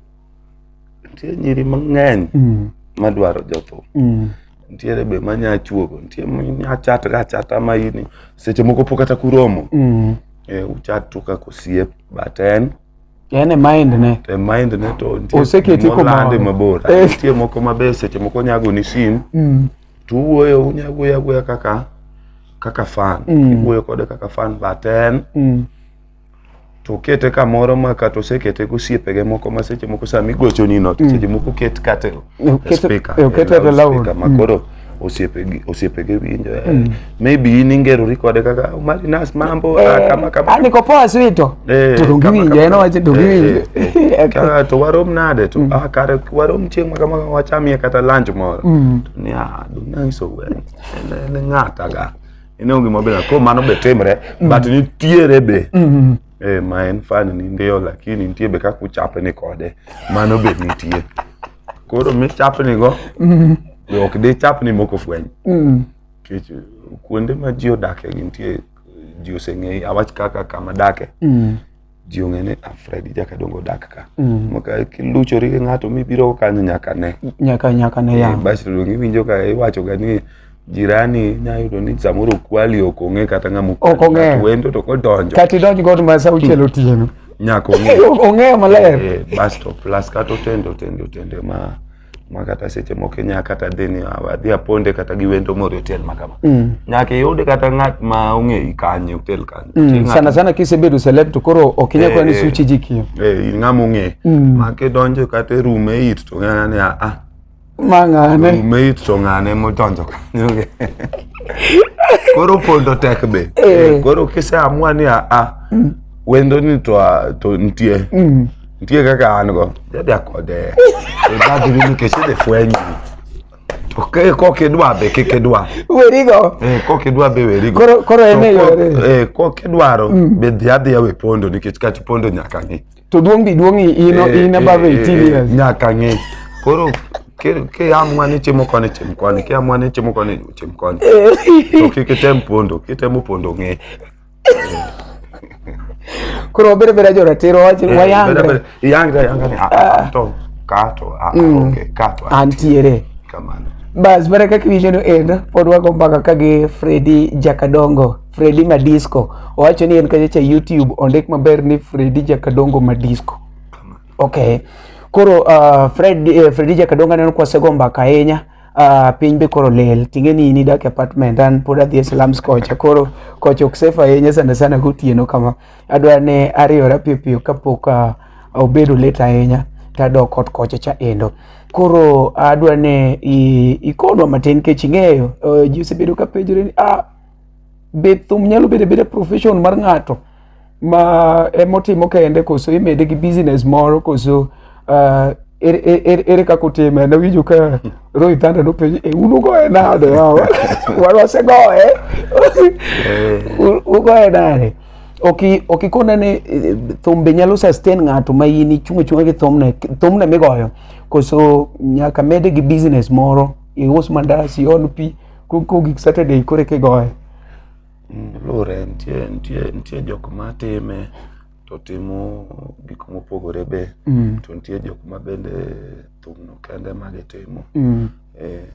nitie nyiri mang'eny mm. madwaro jothum mm. nitiere be manya chuogo nitie manya chat ga chata ma ini seche moko pok kata kuromo mm. e, uchat to kaka osiep but en en e mind ne e mind ne to oseketi komande mabor eh. nitie moko mabe seche moko nyago ni sim mm. to uwuoyo unya wuoyo awuoya kaka kaka fan mm. iwuoyo kode kaka fan but en mm. to okete kamoro ma kata osekete gi osiepege moko ma seche moko sama igochoni no to mm. seche moko oket kata e speaker e oket e loud ma mm. koro osiepege osiepege winjo eh, mm. maybe in ingerori kode kaka oh, mari nas mambo eh, ah, kama kama ah, niko poa swito eh, to dongiwinjo en owacho dongiwinjo kaka to warom nade to ah kare warom chieng' ma kama wachamie kata lunch moro to ni ah donanyiso wer en ng'ata ga ine onge mabe na ko mano be timre mm. but nitiere be mm -hmm. eh ma en fan ni ndio lakini nitie be kaka uchape ni kode mano be nitie koro mi chape ni go mm -hmm. be ok de chape ni moko fweny mm -hmm. kech kuonde ma ji odake gintie ji oseng'eyi awach kaka kama dake mm -hmm. ji ong'e ni ah, Fred jakadongo dak ka mm. maka kiluchori gi ng'ato mibiro kanyo nyaka ne nyaka nyaka ne eh, ya basi to donge iwinjo ka iwacho ga ni jirani nyayudo ni samoro kwali ok ong'e kata ng'ama ok ong'e wendo to kodonjo kati donj god ma sa uchiel otieno nyaka ong'e ong'e maler eh, bas to plus kata otende otende otende ma ma kata seche moko inya kata dhi ni "Ah, adhi aponde kata gi wendo moro e otel ma kama Mm. nyaka iyud kata ng'at ma ong'eyi kanyo e otel kanyo Ti Mm. ng'at- Sana sana kisebedo celeb to koro ok inyal kwana ni Eh, eh. suchi ji kiyo. eh, in ng'ama ong'e Mm. ma kidonjo kata e room e it to ng'ana ni "Ah, ah, Mang'ane. room e it to ng'ane modonjo kanyo koro pondo tek be Eh. Eh, koro kiseamua ni "Ah, ah, wendo ni to ah, to nitie Mm. nitie kaka an go dada kode ibadhirinu kech idhi fwenyi to ke kok idwa be kik idwa werigo eh, kok idwa be werigo koro koro en e yore eh, kok idwaro mm. be dhi adhiya we pondo nikech kach pondo nyaka ng'i to duong' bi duong' in eh, in above 18 eh, eh, years nyaka ng'i koro ke amwa ni chimo koni chim koni ke amwa ni chimo koni chim koni eh. to kik item pondo kitemo pondo ng'e koro wabere bere joratiro wach eh, wayangre yangre yangre ah, ah, ah, to kato ah mm. okay kato antiere kamano bas mana kaka iwinjo no en pod wago mbaka ka gi Fredi Jakadongo Fredi Madisco owacho ni en kacha cha YouTube ondik maber ni Fredi Jakadongo Madisco okay koro uh, Fred, uh, Fredi Jakadongo aneno kwasego mbaka ahinya Uh, piny be koro lel tinge ni in idak e apartment an pod adhi e slums kocha koro kocha ok safe ahinya sana sana gotieno kama adwaro ni ariyora piyo piyo kapok uh, obedo late ahinya tadok ot kocha cha endo koro adwaro ni ikonwa matin kech ing'eyo uh, ji osebedo ka penjore ni ah, Bed thum nyalo bedo abeda profession mar ng'ato ma emotimo kende koso imede gi business moro koso uh, ere, e, ere, ere kaka otime nawinjo ka Roy Thunder nopenjo e un ugoye nade yawa wan wasegoye U- ugoye nade oki okikone ni eh, thum be nyalo sustain ng'ato ma in ichung' achung'a gi thumne thumne migoyo koso nyaka mede gi business moro ius mandas iol pi kogik Saturday kore kigoye. Mm, luwore nitie nitie nitie jok ma time to timo gik mopogore be mm. to nitie jok ma bende thumno kende ma gitimo mm. eh,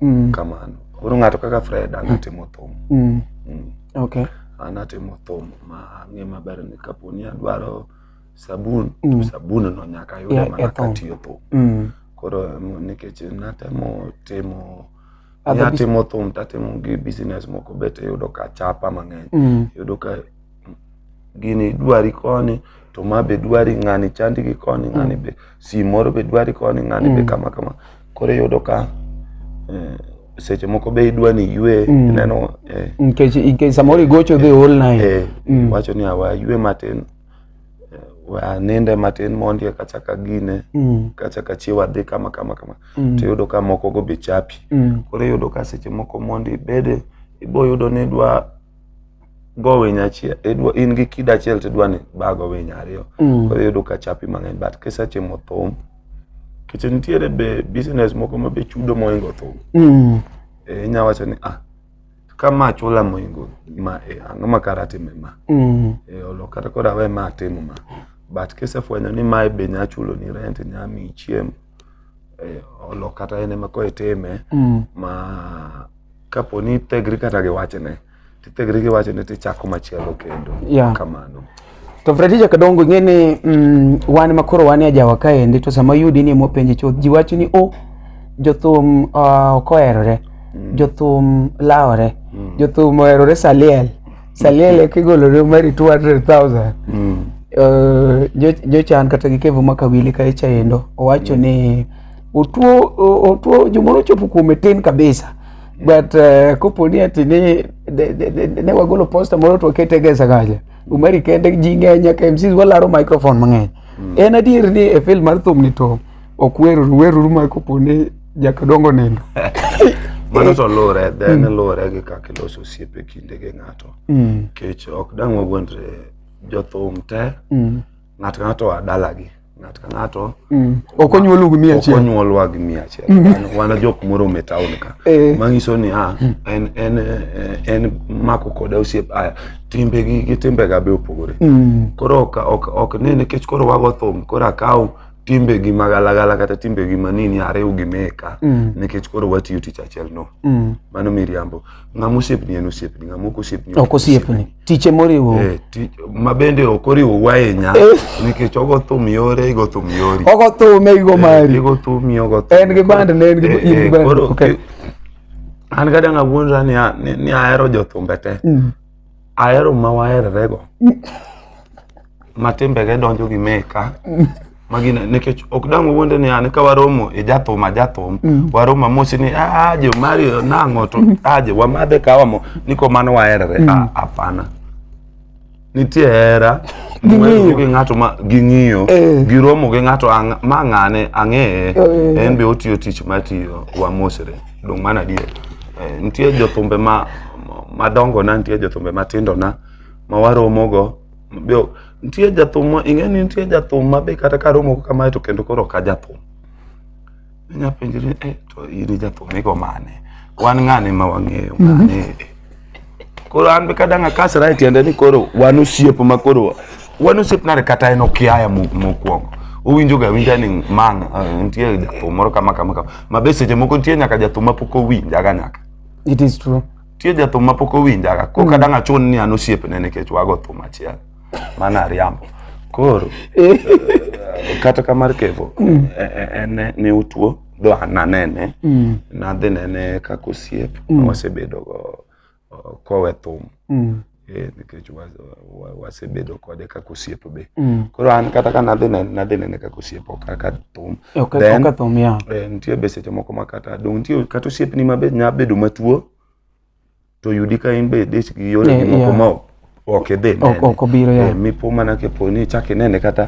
mm. kamano koro ng'ato kaka Fred an mm. atimo thum mm. mm. okay. an atimo thum ma ang'e maber ni kapo ni adwaro sabun mm. to sabun no nyaka yude yeah, mana katiyo thum mm. koro nikech natemo timo Ni atimo thum to atimo gi business moko bet yudo ka chapa mang'eny. Mm. Yudo ka gini dwari koni to ma be dwari ng'ani chandi gi koni ng'ani mm. be si moro be dwari koni ng'ani be mm. kama kama. Koro yudo ka eh, seche moko be idwa ni ywe mm. ineno eh. Nikech samoro igocho dhi ol naye. Eh, mm. Wacho ni awa ywe matin eh, we aninde matin mondi eka achak agine Mm. kachak achiew adhi kama kama kama Mm. to iyudo ka moko go be chapi Mm. koro iyudo ka seche moko mondi ibede iboyudo ni idwa go winy achiel idwa in gi kido achiel to idwa ni bago winy ariyo Mm. koro iyudo ka chapi mang'eny but kisetimo thum nikech nitiere be business moko ma be chudo mohingo thum Mm. Eh, inya wacho ni ah ka ma chula moingo ma e, ang'o ma kara time ma mm. e, olo kata kod awe ma atimo ma but kisefwenyo ni mae be nya chulo ni rent nya mi chiemo e, olo kata en ema ko itime mm. ma kapo ni tegri kata gi wachne tithegri gi wachne tichako machielo kendo yeah. kamano To Fredija Kadongo ing'e ni mm, wan ma koro wan e ajawa kaendi to sama yudi ni mopenje chuth ji wacho ni o jothum ah, ok oherore jothum lawore jothum oherore saliel saliel e kigolore mari 200,000 Eh, jo- jochan kata gi kevo ma kawili ka icha endo owacho ni otuo o- otuo jomoro ochopo kuome tin kabisa but eh, kopo ni ati ni de- de- de- ne wagolo posta moro to wakete gesa kacha Umari kende ji ng'eny nyaka MCs walaro microphone mang'eny. En adier ni e field mar thum ni to ok weruru weruru ma kopo ni jakadongo nindo. Mano to luwore, then luwore gi kaka iloso osiepe kinde gi ng'ato. Mm. Nikech ok dang' wawuondre jothum te Mm. ng'ato ka ng'ato a dalagi ng'ato ka ng'ato mm. ok onyuolu gi mia achiel ok onyuolwa gi mia achiel mm. wan jok morome e taon ka eh. manyiso ni a ah, mm. en en eh, en mako koda osiep aya timbe gi gi timbe ga be opogore koro ok ok ok ne nikech koro wago thum koro akaw timbe gi magalagala kata timbe gi manini ariw gi meka nikech koro watiyo tich achiel no mano miriambo ng'ama osiepni en osiepni ng'ama ok osiepni ok osiepni tiche moriwo eh, ma bende ok oriwo wahinya eh. nikech ogo thum yore igo thum yori ogo thum igo eh, mari igo thum ogo thum en gi band ne en gi band an ga dang' awuondra ni ahero jothumbe te mm. ahero ma waherorego ma timbege donjo gi meka magina nikech ok dang' wuonde ni an ka waromo e jathum a jathum mm. waromo amosi ni aje ah, mari nang'o to mm. aje ah, wamadhe kawamo ni ko mano waherore mm. ah, hapana nitie hera gi ng'ato ma ging'iyo eh. giromo gi ng'ato ma ng'ane ang'eye eh. en be otiyo tich matiyo wamosre Dong mana adier. Eh, nitie jothumbe ma madongo na nitie jothumbe matindo na ma waromo go. Bio, nitie jathum ma ing'e ni nitie jathum ma be kata ka romo kamae to kendo koro ka jathum. Inya penjri eh to in jathum igo mane? Wan ng'ane ma wang'eyo ng'ane? Mm -hmm. koro an be kadang' akasra e tiende ni koro wan osiep ma koro wan osiep nade kata en okiaya mokwongo owinjo ga winja ni man eh, nitie jathum moro kama kama kama ma be seche moko nitie nyaka jathum ma pok owinjaga nyaka it is true nitie jathum ma pok owinjaga koro mm. kadang' achun ni an osiepne nikech wago thum achiel mano ariambo koro eh. eh, kata kamar kevo mm. en ne utuo dwa nanene Mm. nadhi nene kaka osiep Mm. ma wasebedogo uh, kowe thum Mm. eh, nikech wa- wa- wasebedo kode kaka osiep be Mm. koro an kata ka nadhi nene nadhi nene kaka osiep ok kaka thum Ok Then- ok athum ya. Eh, nitie be seche moko ma kata dong nitie kata osiepni ma be nya bedo matuo to yudi ka in be dich gi yore yeah, moko yeah. ma ok idhi nene ok obiro ya yeah. mipo mana ke poni chak inene kata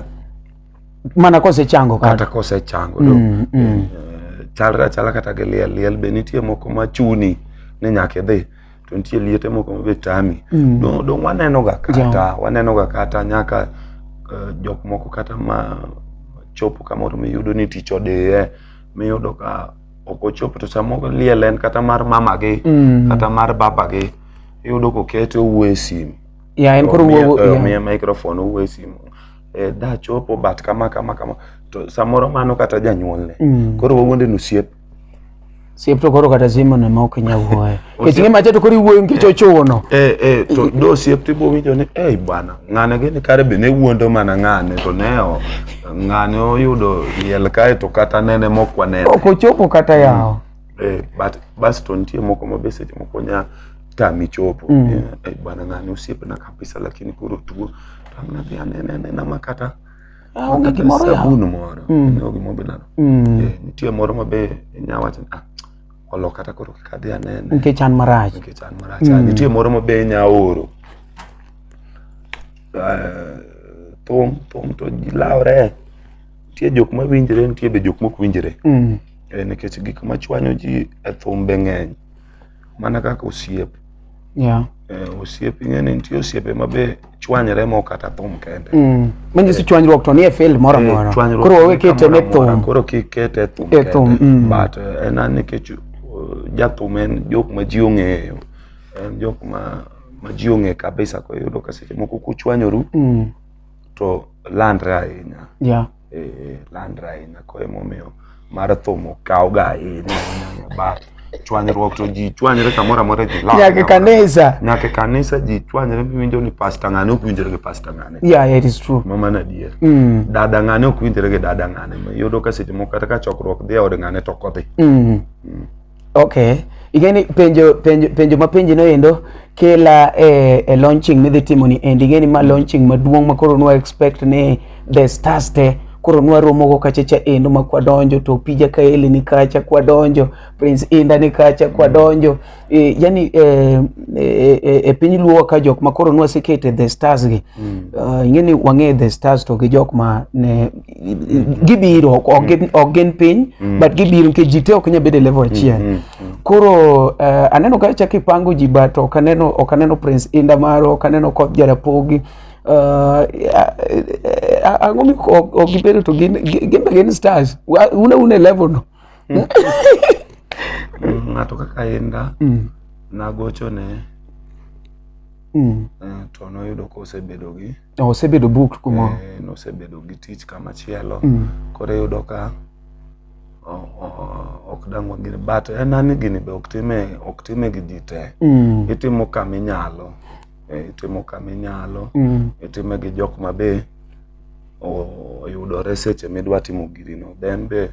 mana kose chango kata, kata kose chango do mm, mm. Eh, chalra chala kata gi liel liel be nitie moko ma chuni ni nyaka idhi to nitie liete moko ma be tami mm. don don waneno ga kata yeah. waneno ga kata nyaka uh, jok moko kata ma chopo kamoro miyudo ni tich odeye miyudo ka ok ochopo to samoro liel en kata mar mamagi mm. kata mar babagi iyudo kokete owuo e simu yeah, en koro omiye eh, microphone owuo e simu eh, da chopo but kama kama kama to samoro mano kata janyuolne mm. koro wawuonde nosiep siep to koro kata simu ne ma ok inyal wuoyo kech ng'e macha to koro iwuoyo nikech eh, ochuno eh, eh, to do siep to ibowinjo ni ei bwana ng'ane gini kare be ne wuondo mana ng'ane to ne ng'ani oyudo liel kae to kata nene mok wanene ok ochopo kata yawo mm. eh, but bas to nitie moko ma be seche moko nya tami chopo mm. eh, eh, bana ng'ani osiepna kabisa lakini koro tuo tamna dhi anene anena ma kata ah, onge gimoro sabun moro mm. ne ogimo be nano mm. eh, nitie moro ma be nya wacho ah olo kata koro kik adhi anene nikech an marach nikech an marach mm. nitie moro ma be nya oro thum thum to ji lawre nitie jok ma winjre nitie be jok mok winjre mm. e, nikech gik ma chwanyo ji e thum be ng'eny mana kaka osiep yeah. e, osiep ing'e ni nitie osiepe ma be chwanyre mok kata thum kende mm. manyiso e, chwanyruok to nie field moro amora e, koro wawe kete ne thum koro kik kete e thum e thum mm. but e, en nikech uh, jathum en jok ma ji ong'eyo en jok ma ma ji ong'e kabisa ko yudo ka seche moko kuchwanyoru Mm. to landre ahinya Yeah. eh, landre ahinya ko emomiyo mar thum okawga ahinya ahinya ba chwanyruok to ji chwanyre kamoro amora ji lal Nyaka e kanisa. nyaka e kanisa ji chwanyre miwinjo ni pasta ng'ane ok winjre gi pasta ng'ane Yeah, yeah, it is true. ma mano adier Mm. dada ng'ane ok winjre gi dada ng'ane iyudo ka seche moko kata ka chokruok dhi e od ng'ane to ok odhi Mm. Okay. Igeni penjo penjo penjo ma penji no endo kela e, e launching midhi timo ni endi igeni ma launching maduong' ma koro nwa expect ni the stars te koro nwa romo go kacha cha endo ma kwa donjo to pija kaeli ni kacha kwa donjo prince inda ni kacha kwa donjo e, yani e, e, e, e piny luo ka jok ma koro nwa sekete the stars gi mm. uh, ingeni wang'e the stars to gi jok ma ne gibiro ok gin- ok gin piny but gibiro nikech ji te ok nyal bedo e level achiel koro eh, aneno ka chak ipango ji but ok aneno ok aneno prince inda maro ok aneno koth jarapogi Uh, ang'o mi ok ok gibedo to gin gi- gin be gin stars Wa- una una e level no ng'ato kaka inda Mm, nagochone mm. eh, to noyudo kosebedo gi Osebedo booked kumoro. Eh, nosebedo gi tich kama chielo. Mm. Koro iyudo ka ok dangwa gini but en ani gini be ok time ok time gi ji te. Mm. Itimo kama inyalo. Eh, itimo kama inyalo. Mm. Itime gi jok ma be oyudore seche midwa timo giri no. Then be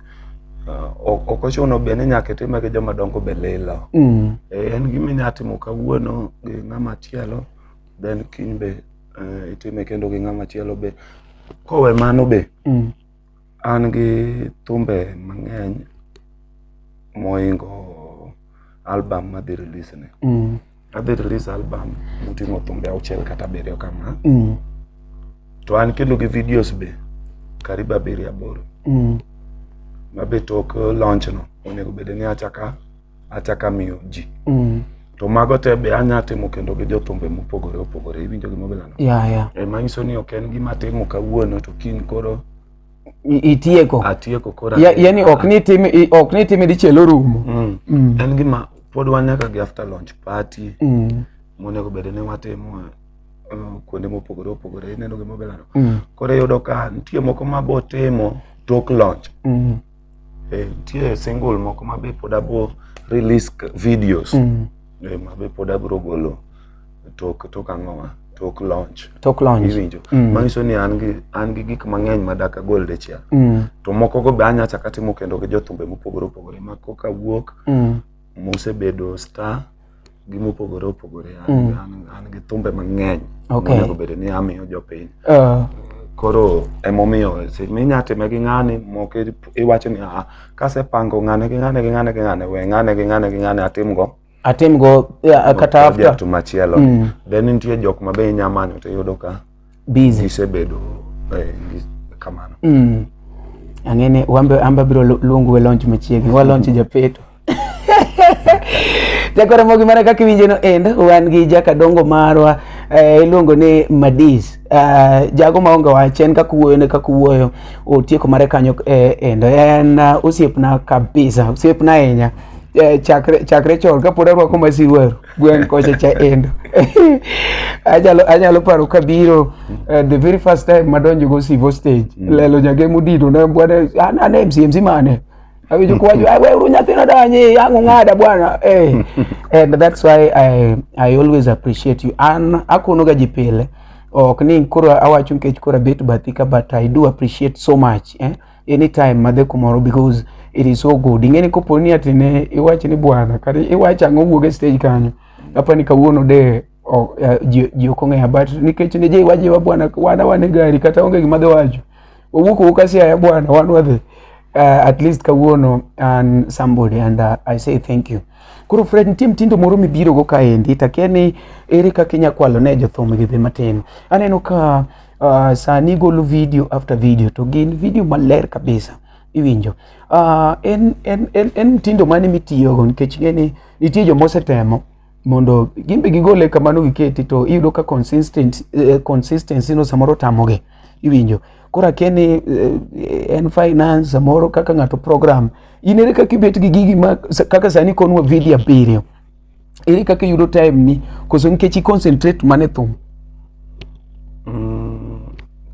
Ah, ok ochuno be ni nyaka itime gi joma dongo be lilo mm. eh, en gima inyalo timo kawuono gi ng'ama chielo then kiny be eh, itime kendo gi ng'ama chielo be kowe mano be mm. an gi thumbe mang'eny moingo album madhi release ni mm. adhi release album moting'o thumbe auchiel kata abiriyo kama mm. to an kendo gi videos be karibu abiriyo aboro mm. mabe tok launch no onego bede ni achaka achak amiyo ji Mm. to mago te be anya timo kendo gi jothumbe mopogore opogore iwinjo gima bilano Yeah, yeah. e manyiso ni ok en gima atimo kawuono to kiny koro I- Itieko. atieko koro Ya- atieko. Yaani ok ni tim i- ok ni tim dichiel orumo. Mm. Mm. en gima pod wan nyaka gi after launch party Mm. monego bed ni watimo eh, kuonde mopogore opogore ineno gima bilano Mm. koro iyudo ka nitie moko mabotimo tok launch Mm. Eh, nitie single moko ma be pod abo release k- videos Mm. eh, ma be pod abro golo tok tok ang'owa tok launch Tok launch. iwinjo Mm. manyiso ni an gi an gi gik mang'eny ma dak agol dichiel Mm. to moko go be anya chaka timo kendo gi jothumbe mopogore opogore ma koka wuok Mm. mosebedo star gi mopogore opogore an, mm. an, an gi thumbe mang'eny okay. monego bedo ni amiyo jopiny uh. koro emomiyo seche minya time gi ng'ani moko iwacho ni a kasepango ng'ane gi ng'ane gi ng'ane gi ng'ane we ng'ane gi ng'ane gi ng'ane atimgo atimgo yeah, kata after machielo mm. then nitie jok ma be inya manyo to iyudo ka busy gisebedo eh, gi- kamano mm. ang'eni wambe amba biro lu- luongu we launch machiegni wa launch japeto jakora mogi mana kaka iwinje no end wan gi jakadongo marwa eh, iluongo ni madis eh, jago maonge wach en kaka wuoyo ne kaka wuoyo otieko mare kanyo eh, endo en eh, osiepna kabisa osiepna ahinya eh, chakre chakre chon kapod arwako masiwero gweng' kocha cha endo anyalo anyalo paro kabiro uh, the very first time madonjo go sivo stage mm. lelo nyage mudito ne bwana ana ah, ne mcmc mane awinjo kwajo ah, we uru nyathina danyi yangu ng'ada bwana hey. Eh. and that's why I, I always appreciate you an akonoga ji pile ok ni koro awacho nikech koro abet bathika but I do appreciate so much eh? anytime madhe kumoro because it is so good ing'eni kopo ni ati ne iwach ni bwana kata iwach ang'o wuog e stage kanyo apa ni kawuono de o- eh, ji ji ok ong'eya but nikech ne je iwaje wa bwana wana wane gari kata onge gima dhi wacho wawuok owuok asiaya bwana wan wadhi uh, at least kawuono an somebody and uh, i say thank you koro fred nitie mtindo moro mibirogo kaendi takia ni ere kaka inya kwalo ne jothum gidhi matin aneno ka Uh, sani golo video after video to gin video maler kabisa iwinjo. Uh, en, en, en, en mtindo mane mitiyogo nikech ing'e ni nitie joma osetemo mondo gimbe gigole kamano giketi to iyudo ka consistent, eh, consistency no samoro tamogi iwinjo koro akia ni eh, en finance samoro kaka ng'ato program in ere kaka ibet gi gigi ma, kaka sani konwa video abiriyo ere kaka iyudo time ni koso nikech i concentrate mane thum mm,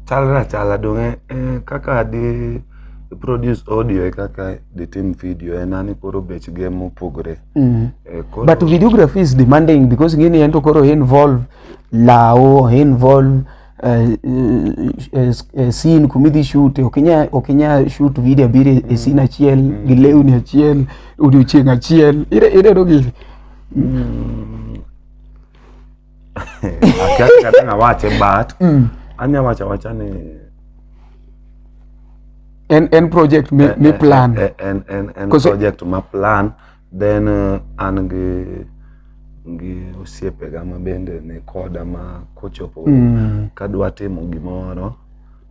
chalra chala donge eh, kaka di produce audio e kaka di tim video en ani koro bech ge mopogore mm. eh, koro... but videography is demanding because ngini en to koro involve lawo involve uh, uh, uh, scene kumidhi shoot okinya okinya shoot video abiri mm. scene achiel mm. gi lewni achiel odiochieng achiel ire ire dogi mm. akiaka tena wache but mm. anya wacha wacha ni en en project me, eh, me eh, plan eh, en en en project ma plan Then uh, an gi gi osiepega ma bende ni koda ma kochopo mm. kadwa timo gimoro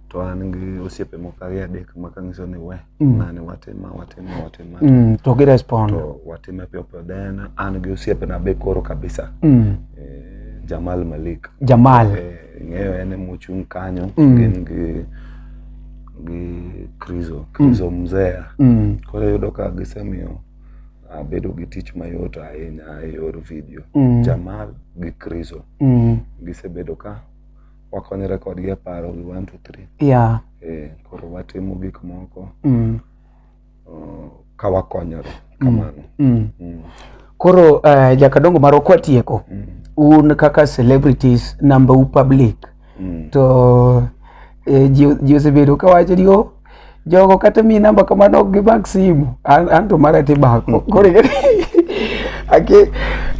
to an gi osiepe moko ariyo adek ma kanyiso ni we mm. nani watima watima watima mm. to gi respond to watime piyo piyo then an gi osiepena be koro kabisa mm. eh, Jamal Malik Jamal eh, ing'eyo en emochung' kanyo mm. gin gi gi krizo mm. krizo mm. mzea mm. koro yudo ka gisemiyo abedo gi tich mayot ahinya e yor video mm. jamal gi krizo mm. gisebedo ka wakonyore kodgi e paro gi one to three yeah. e, koro watimo gik moko mm. uh, ka wakonyore mm. kamano. Mm. Mm. Koro uh, jakadongo marwa kwatieko mm. un kaka celebrities number u public mm. to eh, ji osebedo kawacho ni oh, jogo kata mi namba kamano ok gimak simu an, an to mara tibako mm. koro ake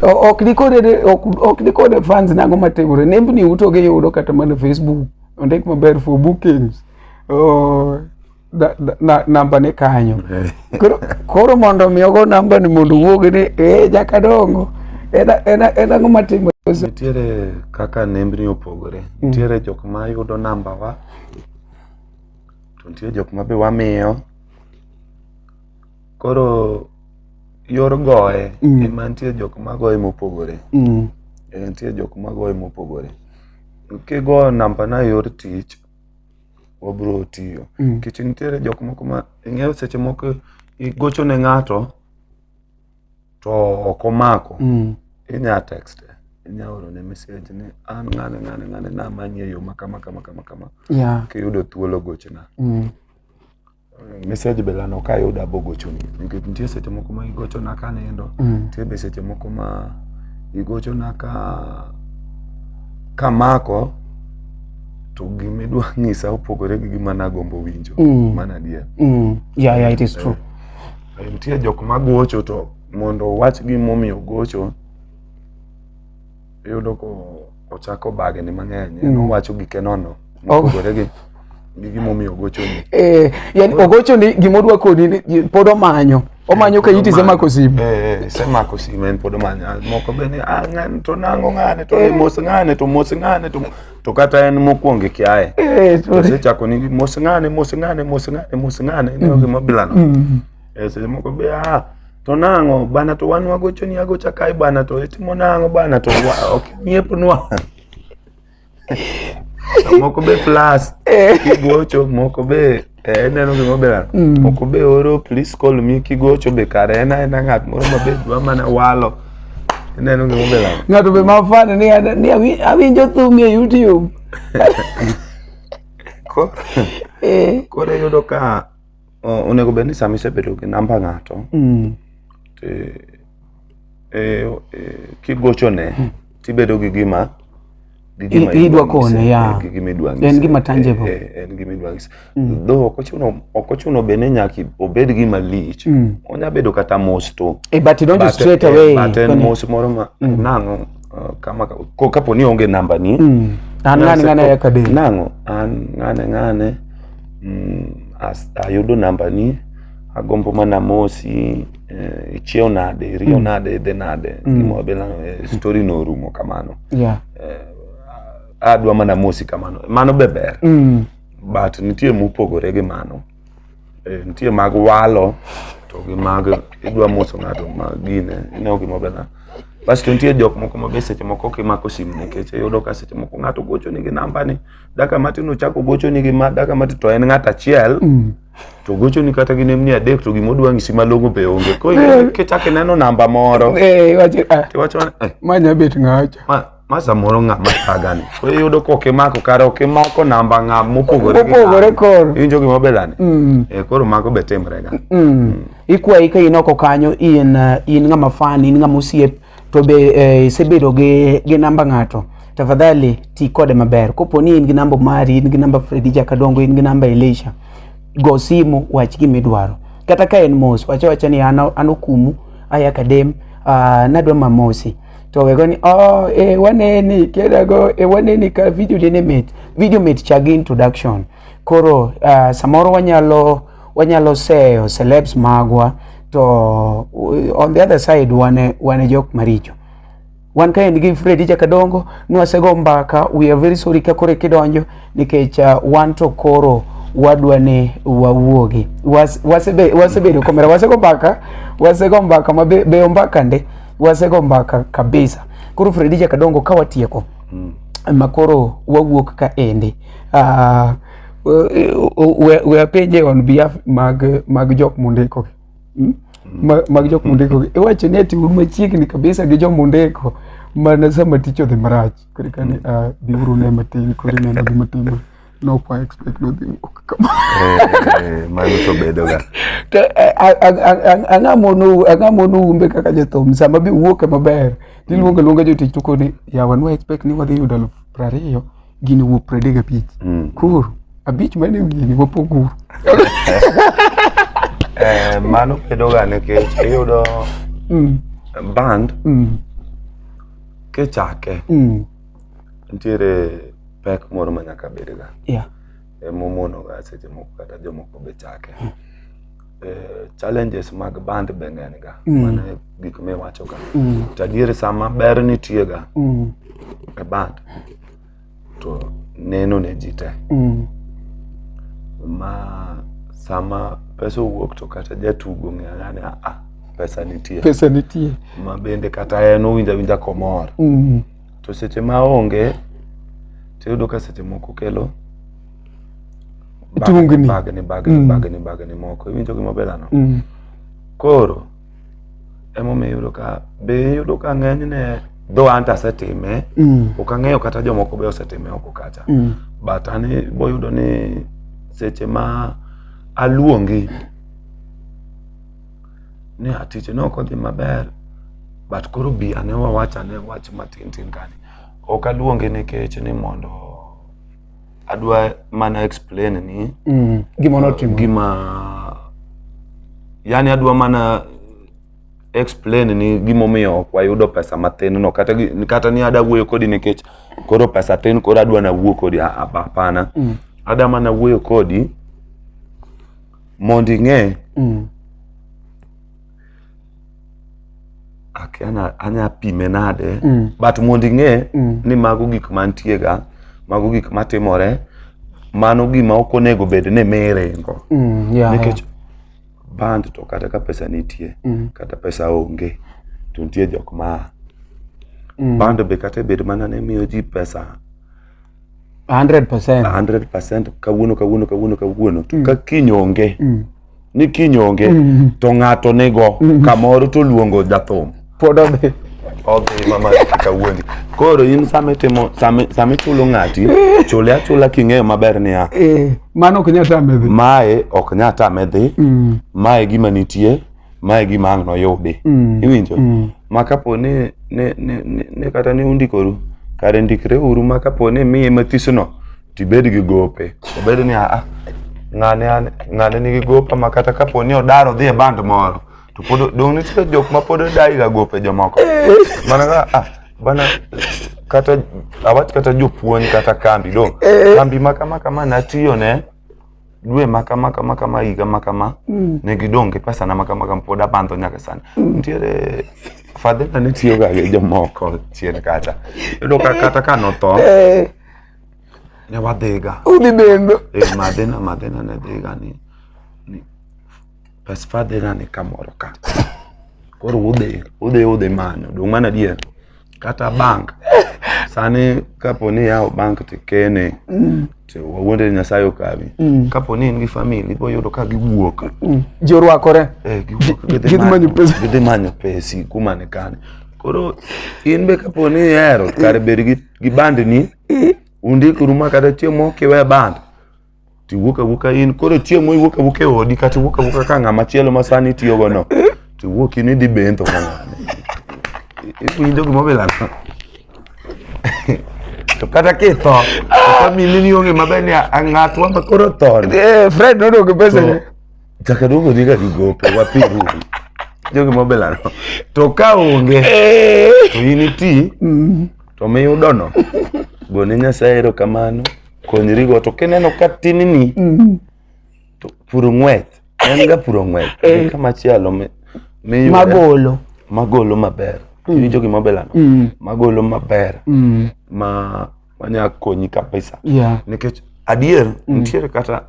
ok nikone ok nikone fans nango matimore nembni utoge yudo kata mana facebook ondik maber for bookings oh. namba ni kanyo koro mondo mi ogo namba ni mondo wuog ni e jaka dongo en ang'o matimo nitiere kaka nembni opogore mm. nitiere jok ma yudo namba wa to nitie jok ma be wamiyo koro yor goye mm. ema nitie jok ma goye mopogore mm. e, nitie jok ma goye mopogore kigoyo namba na yor tich wabro tiyo mm. nikech mm. nitiere jok moko ma ing'eyo seche moko igocho ne ng'ato to ok omako mm. inya text inya oro ne message ni an ng'ane ng'ane ng'ane namanyi e yo ma kama kama kama kama yeah. kiyudo thuolo gochna mm. message be lano ka yuda bogochoni nikech nitie seche moko ma igochona ka nindo mm. nitie be seche moko ma igochona ka kamako to gima idwa ng'isa opogore gi gima nagombo winjo mm. mana adier mm. yeah, yeah, it is true eh, eh, nitie jok magocho to mondo owach gimomiyo gocho iyudo ko ochako bagni mang'eny en mm. owacho gike nono oh. mopogore gi gi gimomiyo ogochoni eh, yani ogochoni gima odwa koni pod omanyo omanyo ka iti semako simu eh, eh, semako simu en pod omanyo ah, moko be ni ah, ng'ani to nango ng'ani to mos ng'ani to mos ng'ani to to kata en mokwongo kiaye osechako ni mos ng'ani mos ng'ani mos ng'ani mos ng'ani ne mm. gima bilano mm. seche moko be ah To nang'o bana to wan wagochoni agocha kae bana to itimo nang'o bana to wa- ok nyiepnwa. To moko be plus kigocho moko be eh, ineno gima oberan moko be oro please call me kigocho be kare en aena ng'at moro ma be dwa mana walo ineno gima oberan Ng'ato be mafane ni ana- ni awi- awinjo thumi e YouTube. Ko- Eh. koro iyudo ka uh, onego bed ni sama isebedo gi namba ng'ato mm. to e, e, kigochone hmm. tibedo gi gima idwa kone ya en gima tangible eh, eh, en gima idwa ng'ise hmm. though ok ochuno ok ochuno be ni nyaka obed gima lich hmm. onya bedo kata mos to e but you don't straight away but en mos moro ma nang'o uh, kama ko kapo ni onge namba ni mm. an ng'ane ng'ane ya kade nang'o an ng'ane ng'ane mm, as, ayudo namba ni agombo mana mosi eh, ichiew nade iriyo mm. nade idhi nade mm. gimo bila eh, story no rumo kamano yeah. eh, adwa mana mosi kamano mano be ber mm. but nitie mopogore gi mano Eh, nitie mag walo to gi mag idwa moso ng'ato ma gine ineo gima bena basto nitie jok moko ma be seche moko kimako simu nikech iyudo ka seche moko ng'ato gocho nigi namba ni daka matin ochako gocho nigi ma daka matin to en ng'at achiel mm. to gocho ni kata gi nemni adek to gima odwa ng'isi malong'o be onge koro eh. kichako ineno namba moro eh, ah. tiwacho manya bet ng'acha ma samoro ng'a ma thagani koro iyudo ka ok imako kare ok imako namba ng'a mopogore gi Mopogore ng'ani. koro. iwinjo gima belani Mm. Eh, koro mago be timrega Mm. ikwayi ka in oko kanyo in uh, in ng'ama fan in ng'ama osiep to be eh, isebedo gi, gi namba ng'ato tafadhali ti kode maber kopo ni in gi namba mari in gi namba fredi jakadongo in gi namba elisha go simu wach gima idwaro kata ka en mos wacha wacha ni an an okumu aya kadem uh, nadwa mamosi to we go ni oh e eh, waneni kedago e eh, waneni ka video dine mit video mit chagi introduction koro uh, samoro wanyalo wanyalo seyo celebs magwa to uh, on the other side wane wane jok maricho wan ka en gi Fred Jaka Dongo nwasego mbaka we are very sorry ka kore kidonjo nikech uh, wan to koro wadwa ni wawuogi wasebedo was, was komera wasego mbaka wasego mbaka mabeyo mbaka nde wasego mbaka kabisa koro fredija kadongo ka watieko mm. makoro wawuok ka ende uh, we apenje on behalf mag, mag jok mundiko hmm? hmm? mag jok mundiko iwacho ni ati un machiegni kabisa gi jok mundiko mana sama tich odhi marach koro kani hmm. ah, biuru ne matin koro ineno gima timore No kwa expect nothing work kama. Eh, mano to bedo ga. Ang'a mono ang'a mono umbe kaka jathum sama bi wuok maber. Niluongo mm. luonga jotich to koni yawa no expect ni wadhi yudo 20 gini wuok 35. Mm. Kuru abich mane wiye ni wapoguru. Eh, mano bedo ga nikech iyudo mm. band mm. kichake mm. nitiere pek moro ma nyaka bedga yeah. e momonoga seche moko kata jomoko be chake hmm. e, challenges mag band be ng'eny ga mm. mana gik miwacho ga mm. to adier sama ber nitie ga mm. e band to neno ne ji te mm. ma sama pesa owuok to kata jatugo ng'eya ni ah, pesa nitie pesa nitie ma bende kata en owinja winja komor mm. to seche ma onge to iyudo ka seche moko kelo tungni bagni bagni mm. bagni bagni moko iwinjo gima belano mm. koro emomiyo iyudo ka be iyudo ka ng'enyne dho an to asetime mm. ok ang'eyo kata jomoko be osetime oko kacha mm. but an boyudo ni seche ma aluongi ni a tich ne ok odhi maber but koro bi ane wawach ane wach matin tin kani ok aluonge nikech ni mondo adwa mana explain ni Mm. Gima notimo. gima yani adwa mana explain ni gimomiyo ok wayudo pesa mathin no kata, gi- kata ni ada wuoyo kodi nikech koro pesa tin koro adwa na wuo kodi Ah, ah, hapana mm. ada mana wuoyo kodi mondo ing'e Mm. ak- ana- anya pime nade Mm. but mondo ing'e Mm. ni mago gik mantiega mago gik matimore mano gima ok onego bed ni miringo Mm. Yeah, nikech band to kata ka pesa nitie Mm. kata pesa onge to nitie jok ma Mm. band be kata bed mana ni miyo ji pesa 100%. 100% kawuono kawuono kawuono kawuono to ka kiny onge Mm. ni kiny onge Mm. to ng'ato nigo kamoro to luongo jathum Pod odhi. odhi mama kawuondi koro in sama itimo sama sama ichulo ng'ati chule achula king'eyo maber niya Eh, mano ok nyal tame dhi. mae ok nyal tame dhi Mm. mae gima nitie ma e gima ang' noyudi Mm. iwinjo Mm. ma kapo ni ni- ni- ni- ni kata ni undikoru kare ndikre uru ma kapo ni miye mathisono tibed gi gope obed ni aa ng'ane an- ng'ane nigi gopa ma kata kapo ni odaro dhi e band moro to pod dong' nitie jok ma pod odayiga gope jomoko mana ka ah, bana kata awach kata jopuonj kata kambi dong' kambi ma kama kama natiyone dwe ma kama kama kama higa ma kama mm. ne gidong' gi pesa na ma kama kama pod abandho nyaka sani mm. nitiere fadhina ne tiyo ga gi jomoko chien kacha yudo ka kata ka notho eh. ne wadhiga udhi dendo eh, madhina madhina ne dhiga ni Bas fadhe nane kamoro ka. Koro udhi, udhi udhi manyo. Dong' mana dier. Kata bank. Sani kapo ni yawo bank to ikene. Mm. To wawuonde Nyasaye okawi. Mm. Kapo ni in gi family ibo yudo ka giwuok. Mm. Ji orwakore. Eh, giwuok gidhi Gidhi manyo manyo pesa. gidhi manyo pesi kuma ni kani. Koro in be kapo ni ihero kare bed gi, gi bandni undikuru ma kata chiemo kiwe band to iwuok awuoka in koro chieng' miwuok awuok e odi kata iwuok awuoka ka ng'ama chielo ma sani itiyogo no to iwuok in idhi bentho ka ng'ane iwinjo gima obilano to kata kitho famili ni onge maber ni ng'atwa ma koro thoni Eh, Fred nodog pesa ne. chaka duogo dhi ka gigope wapiru jo gima obilano to ka onge to in iti to miyudono gone nyasaye erokamano konyorigo to kineno ka tinini mm. to puro ng'weth en ga puro ng'weth eh. ka machielo magolo magolo maber mm. iwinjo gima obelano mm. magolo maber mm. ma manya konyi kabisa yeah. nikech adier mm. nitiere kata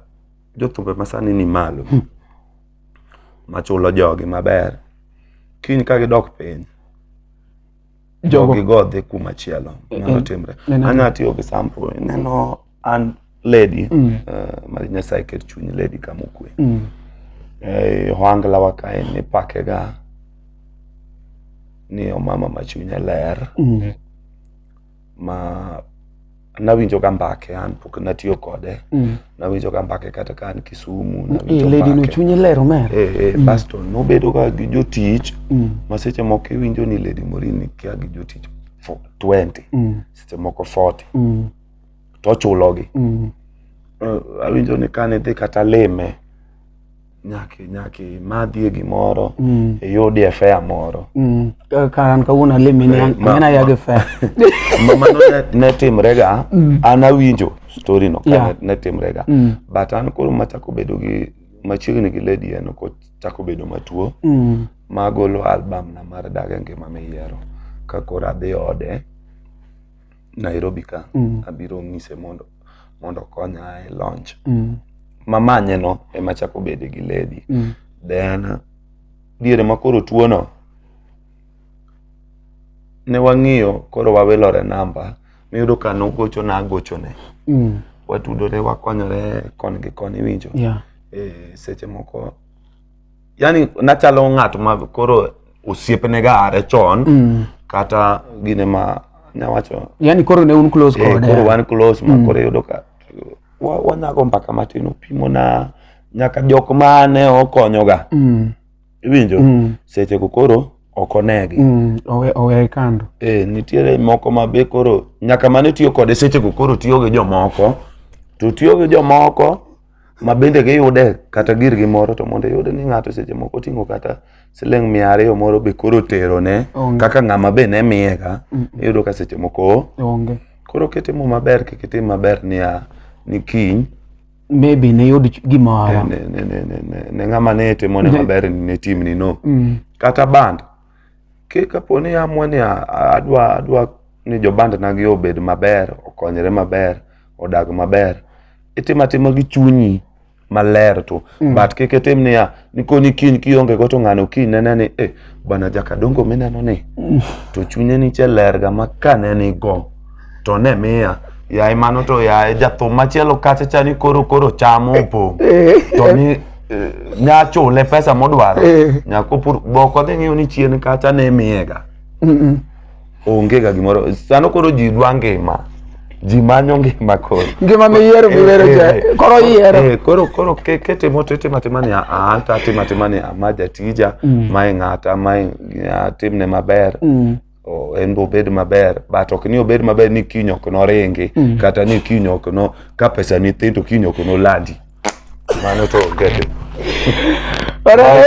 jothumbe masani ni malo mm. machulo jogi maber kiny ka gidok piny jogo gigo dhi kuma chielo eh, nyalo eh, timre anya atiyo gi sample ineno an lady mm. uh, mar nyasaye ket chuny lady kama okwe mm. eh, ohangla wa kae nipakega ni omama ma chunye ler mm. ma nawinjo ka mbake an pok natiyo kode mm. nawinjo ka mbake kata ka an kisumu nawinjoledino chunye lero mer e, e, mm. basto nobedo ka gi jotich mm. ma seche moko iwinjo ni ledi morini kia gi jotich 20 mm. seche moko 40 mm. to ochulogi mm. uh, awinjo ni kane dhi kata lime nyaka nyaka imadhie gimoro mm. iyudie fea moro mm. ka an kawuono alimi ne eh, an aya gi fea mano ne timrega mm. an awinjo story no yeah. ne timrega mm. but an koro machako bedo gi machiegni gi lady en kochako bedo matuo mm. magolo album na mar daga ngima miyiero ka koro adhi ode Nairobi ka mm. abiro ng'ise mondo mondo okonya e launch mm. mamanye no ema chako bede gi lady mm. then diere ma koro tuo no ne wang'iyo koro wawilore namba miyudo ka nogocho na agochone mm. watudore wakonyore kon gi kon iwinjo yeah. e, seche moko yani nachalo ng'at ma koro osiepne ga are chon mm. kata gine ma nyawacho yani koro ne un close eh, kode koro wan close ma mm. koro yudo ka wanyago mbaka matin opimo na nyaka jok ma ne okonyo ga mm. iwinjo mm. seche go koro ok onegi mm. owe owe kando eh nitiere moko ma be koro nyaka mane tiyo kode seche go koro tiyo gi jomoko to tiyo gi jomoko ma bende giyude kata gir gi moro to mondo iyude ni ng'ato seche moko oting'o kata siling mia ariyo moro be koro otero ne kaka ng'ama be ne miye ka iyudo ka seche moko onge koro kitimo maber kik itim maber niya ni kiny maybe ne yud gimoro ne ng'ama ne timo ne maber ne timni no mm. kata band Ki kapo ni amua ni a- a- adwa adwa ni jobandanagi obed maber okonyre maber odag maber itimo atima gi chunyi maler tu Mm. but kik itim niya nikoni kiny kionge go to ng'ano kiny nene ni eh, bana jakadongo mineno ni to chunye niche lerga ma kaneni go to ne miya yaye mano to yaye jathum machielo kacha cha ni koro koro chamo opong' to ni eh, nya chule pesa modwaro Eh. nyako pur boko dhi ng'iyo ni chien kacha ne miyega onge ga gimoro sano koro ji dwa ngima ji manyo ngima koro Ngima miyiero miwero Eh, cha. eh, eh. Koro iyiero. Eh, koro koro ke- ketimo to itimo atima ni aa to atimo atima ni ama jatija mae ng'ata mae atimne maber o- en be obed maber but ok ni obed maber ni kiny ok noringi Mm. kata ni kiny ok no ka pesa ni thin to kiny ok nolandi mano to get Alright.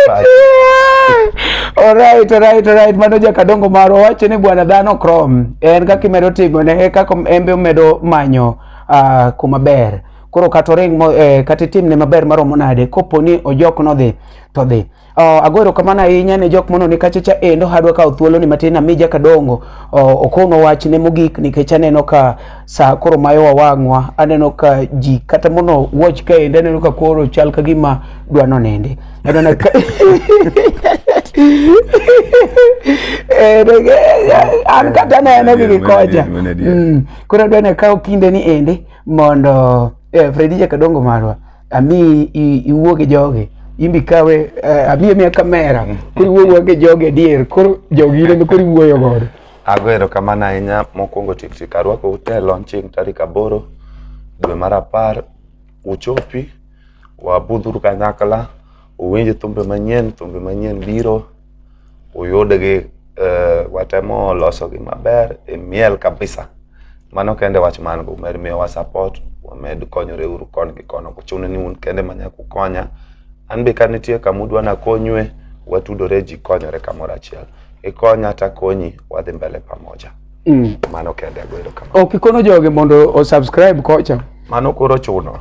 Alright, alright, alright. Mano jakadongo marwa wacho ni bwana dhano krom en kaka imedo tigo ne e kaka en be omedo manyo ah, kuma ber koro kata oring mo- eh, kata itimne maber maromo nade kopo ni ojok nodhi to dhi Uh, ago erokamano ahinya ne jok mononi kachacha endo hadwa kawo thuoloni matin ami jakadongo uh, oh, okonwa wachne mogik nikech aneno ka sa koro mayowa wang'wa aneno ka ji kata mono watch ka endo aneno ka koro chal ka gima dwa nonende aneno ka an kata neno gi gikocha mm. koro adwa ne kawo kinde ni ende mondo eh, fredi jakadongo marwa ami iwuo gi jogi imbi kawe eh, abi amiya kamera koro iwuogo gi jogi adier koro jogi ineno koro iwuoyo godo ago erokamano ahinya mokwongo tiktik arwako ute launching tarik aboro dwe mar apar uchopi wabudhuru kanyakla uwinj thumbe manyien thumbe manyien biro uyudgi uh, watemo losogi maber imiel kabisa mano kende wach man go mer miyowa support wamed konyore uru kon gi kono kuchune ni un kende manya kukonya an be ka nitie kama udwa nakonywe watudore ji konyore kamoro achiel ikonya takonyi wadhi mbele pamoja Mm. Mano kende ago erokamano. Ok ikono joge mondo o subscribe kocha. Mano koro chuno.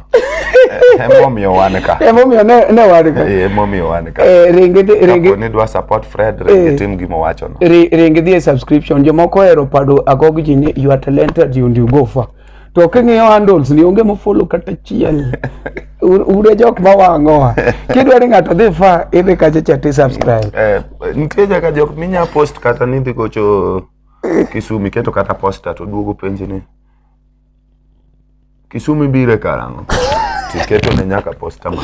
Emomiyo wan ka. Emomiyo ne ne wan ka. Eh, emomiyo wan ka. Eh, ringi ringi. Kapo ni dwa support Fred, ringi eh, tim gima wacho no. Ringi dhie subscription. Jomoko hero pado agog ji ni you are talented you do go far. To king'iyo handles ni onge mofollow kata chiel. Ude jok ma wang'oa. Kidwa ni ng'ato dhi fa, idhi kacha chati subscribe. Eh, nitie jaka jok minya post kata ni dhi gocho Kisumi keto kata posta to duogo penji ni Kisumi bire karang'o? Tiketo ne nyaka posta ma.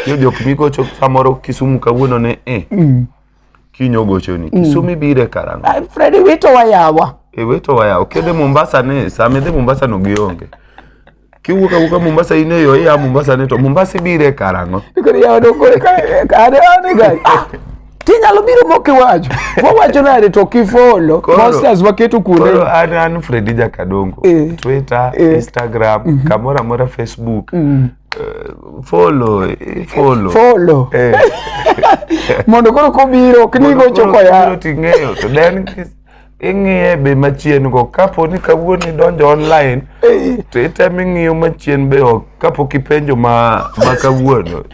Yo jok migocho samoro Kisumu kawuono ne eh. Mm. Kinyo gocho ni mm. Kisumi bire karang'o? Ah, Freddy wito wayawa. E wito wayawa. Kede Mombasa ne, same de Mombasa no gionge. kiwuok awuoka Mombasa in eyo iya Mombasa ni to Mombasa ibire karang'o koro yawa dong koro ka- ka- ane ane gari Ah, tinyalo biro mok iwacho wawacho nade to kifolo Koro- posters waketo kuonde koro an an Fredi Jakadongo Eh. Twitter Eh. Instagram kamoro amora Facebook eh, follow eh, follow folo Eh. mondo koro kobiro ok ni Koro- gocho koro koya kibiro ting'eyo to then ing'iye be machien go kapo ni kawuono idonjo online to item ing'iyo machien be ok kapok ipenjo ma ma kawuono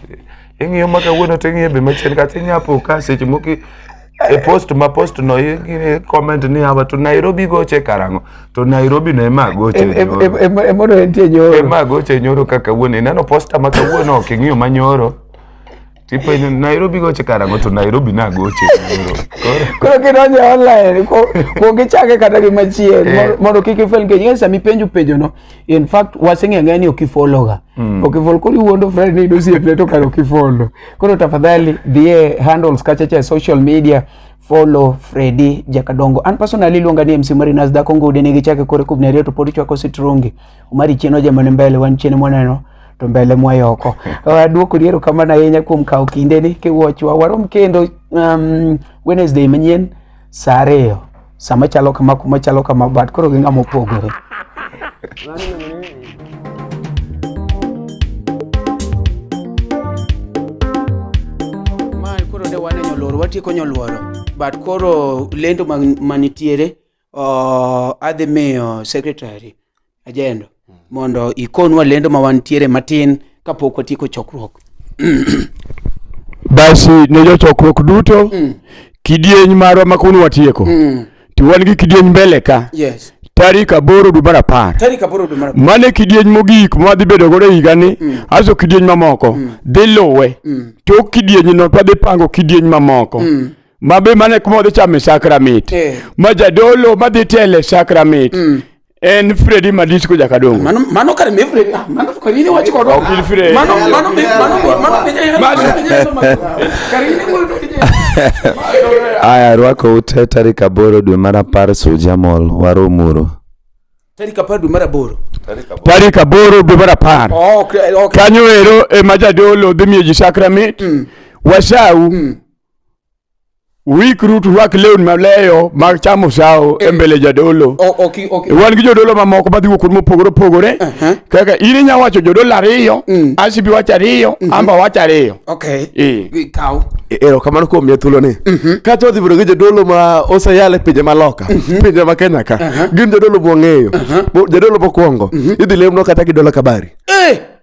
ing'iyo ma kawuono to ing'iye be machien kata inyapo ka seche moko i- e post ma post no i- i- comment ni hawa to Nairobi goche karang'o to Nairobi no ema goche nyoro. emono entie nyoro ema goche nyoro ka kawuono ineno posta ma kawuono ok ing'iyo ma nyoro Tipo in Nairobi goche karango to Nairobi na goche. Koro kidonjo online ko ko gichake kata gi machien eh. mondo kik ifel ke nyesa mi penju penjo no. In fact waseng'e ng'e ni ok ifollow ga. Mm. Ok ifollow kuri wuondo friend ni dosi eple to karo kifollow. Koro tafadhali dhie handles kacha cha social media follow Freddy Jakadongo. An personally luonga ni MC Marinas Dakongo udene gichake kore kubnerio to podi chwako sitrungi. Omari chien ojemone mbele wan chien mwaneno to mbele mwayoko duoko liero kamano ahinya kuom kawo kinde ni kiwuochwa warom kendo um, Wednesday manyien saa ariyo sama chalo kama kuma chalo kama but koro gi ng'ama opogore mae koro ne wane nyoluoro watieko nyoluoro but koro lendo man- manitiere adhi miyo secretary ajendo hmm. mondo ikonwa lendo ma wantiere matin kapok watieko chokruok basi ne jochokruok duto mm. kidieny marwa ma kawuono watieko mm. to wan gi kidieny mbele ka yes. tarik aboro dwe mar apar mane kidieny mogik mwadhi bedo godo e higani mm. aso kidieny mamoko mm. dhi luwe mm. tok kidienyno twadhi pango kidieny mamoko mm. ma be mane kuma odhi chame sakramit Eh. ma jadolo madhi tele sakramit en fredi madisco jakadongo Mano mano kare me fredi. Ah, mano kare ni wachi kodo. In fredi. Mano mano me mano mano me jaya. Mano me jaya sama. Kare ni ko to jaya. Aya, rwako ute tarik aboro dwe mar apar Suja Mall, Warumuru. Tari kapadu mara boro. tarik aboro dwe mar apar Oh, okay, okay. kanyo ero ema jadolo dhi miyo ji sakramit wasau Uikru turwak lewni maleyo mag chamo sawo e mbele jadolo. O- ok i- ok i- Wan gi jodolo mamoko madhi wuok kuonde mopogore opogore. Aha. Kaka in inya wacho jodolo ariyo, Asibi wacho ariyo, Amba wacho ariyo. Okay. Eh. Gi- Kaw. erokamano kuom miya thuoloni kata odhi bedo gi jodolo ma oseyal e pinje maloka pinje ma kenya ka gin jodolo mwang'eyo Mo- jadolo mokwongo idhi lemno kata gi dola kabari Eh!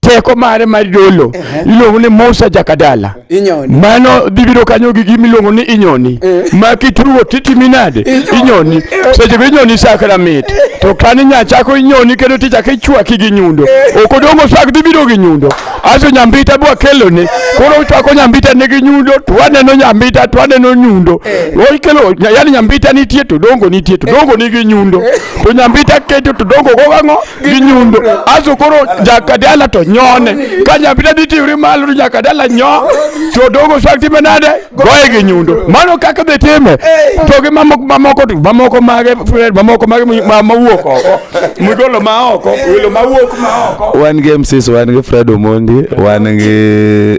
teko mare mar dolo iluongo ni Musa Jakadala. Inyoni. Mano dhibiro kanyo gi gima iluongo ni inyoni. Eh. Ma kitugo titimi nade? Inyoni. Seche go inyoni sakra mit. To kan inya chako inyoni kendo tichako ichwaki gi nyundo. Eh. Ok odongo sak dhibiro gi nyundo. Aso nyambita bwa kelone. Koro uchwako nyambita ne gi nyundo to waneno nyambita to waneno nyundo. Eh. Ikelo yani nyambita nitie to dongo nitie to dongo ni gi nyundo. To nyambita keto to dongo go ang'o? gi nyundo aso koro jakadala to nyone ka nyambita ditiwri malo to jakadala nyo to dogo swag time nade goye gi nyundo mano kaka dhi time to gi mamoko mamoko to mamoko mage mamoko mage ma- mawuok oko migolo ma oko welo mawuok ma oko wan gi mcs wan gi fred omondi wan gi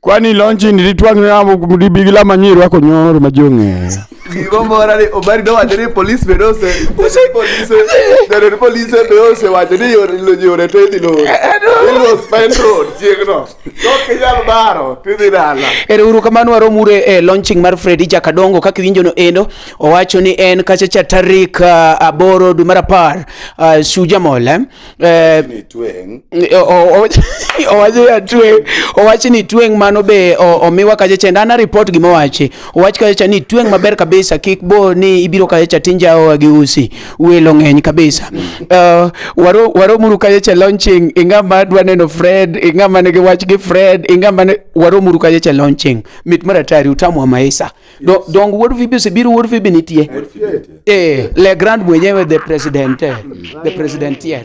Kwani lonji nilitwang namo libigila manyiri wako nyoro majonge. Gigo mora ni obari do wacho ni police be dose. Use police. Dere ni police be ose wacho ni yore lo yore to idhi lo. Ilo spend road chiegno. Tok inyal baro to idhi dala. Ere uru kamano warom ure e launching mar Freddy Jakadongo kaka iwinjo no endo owacho ni en kacha cha tarik uh, aboro dwe mar apar uh, Shujamol eh? Eh, owachi ni tweng' mano be omiwa kachacha and ana report gima owachi owach kachacha ni tweng' maber kabisa kik bo ni ibiro kachacha tinjaoa gi usi welo ng'eny kabisa eh, waromuru kachacha launching ing'ama dwa neno fred ing'ama nigi wach gi fred ing'ama waromuru kachacha launching mit mar atari utamwa maisa Do, dong wuod vibi osebiro wuod vibi nitie eh, le grand mwenyewe the president eh, the president here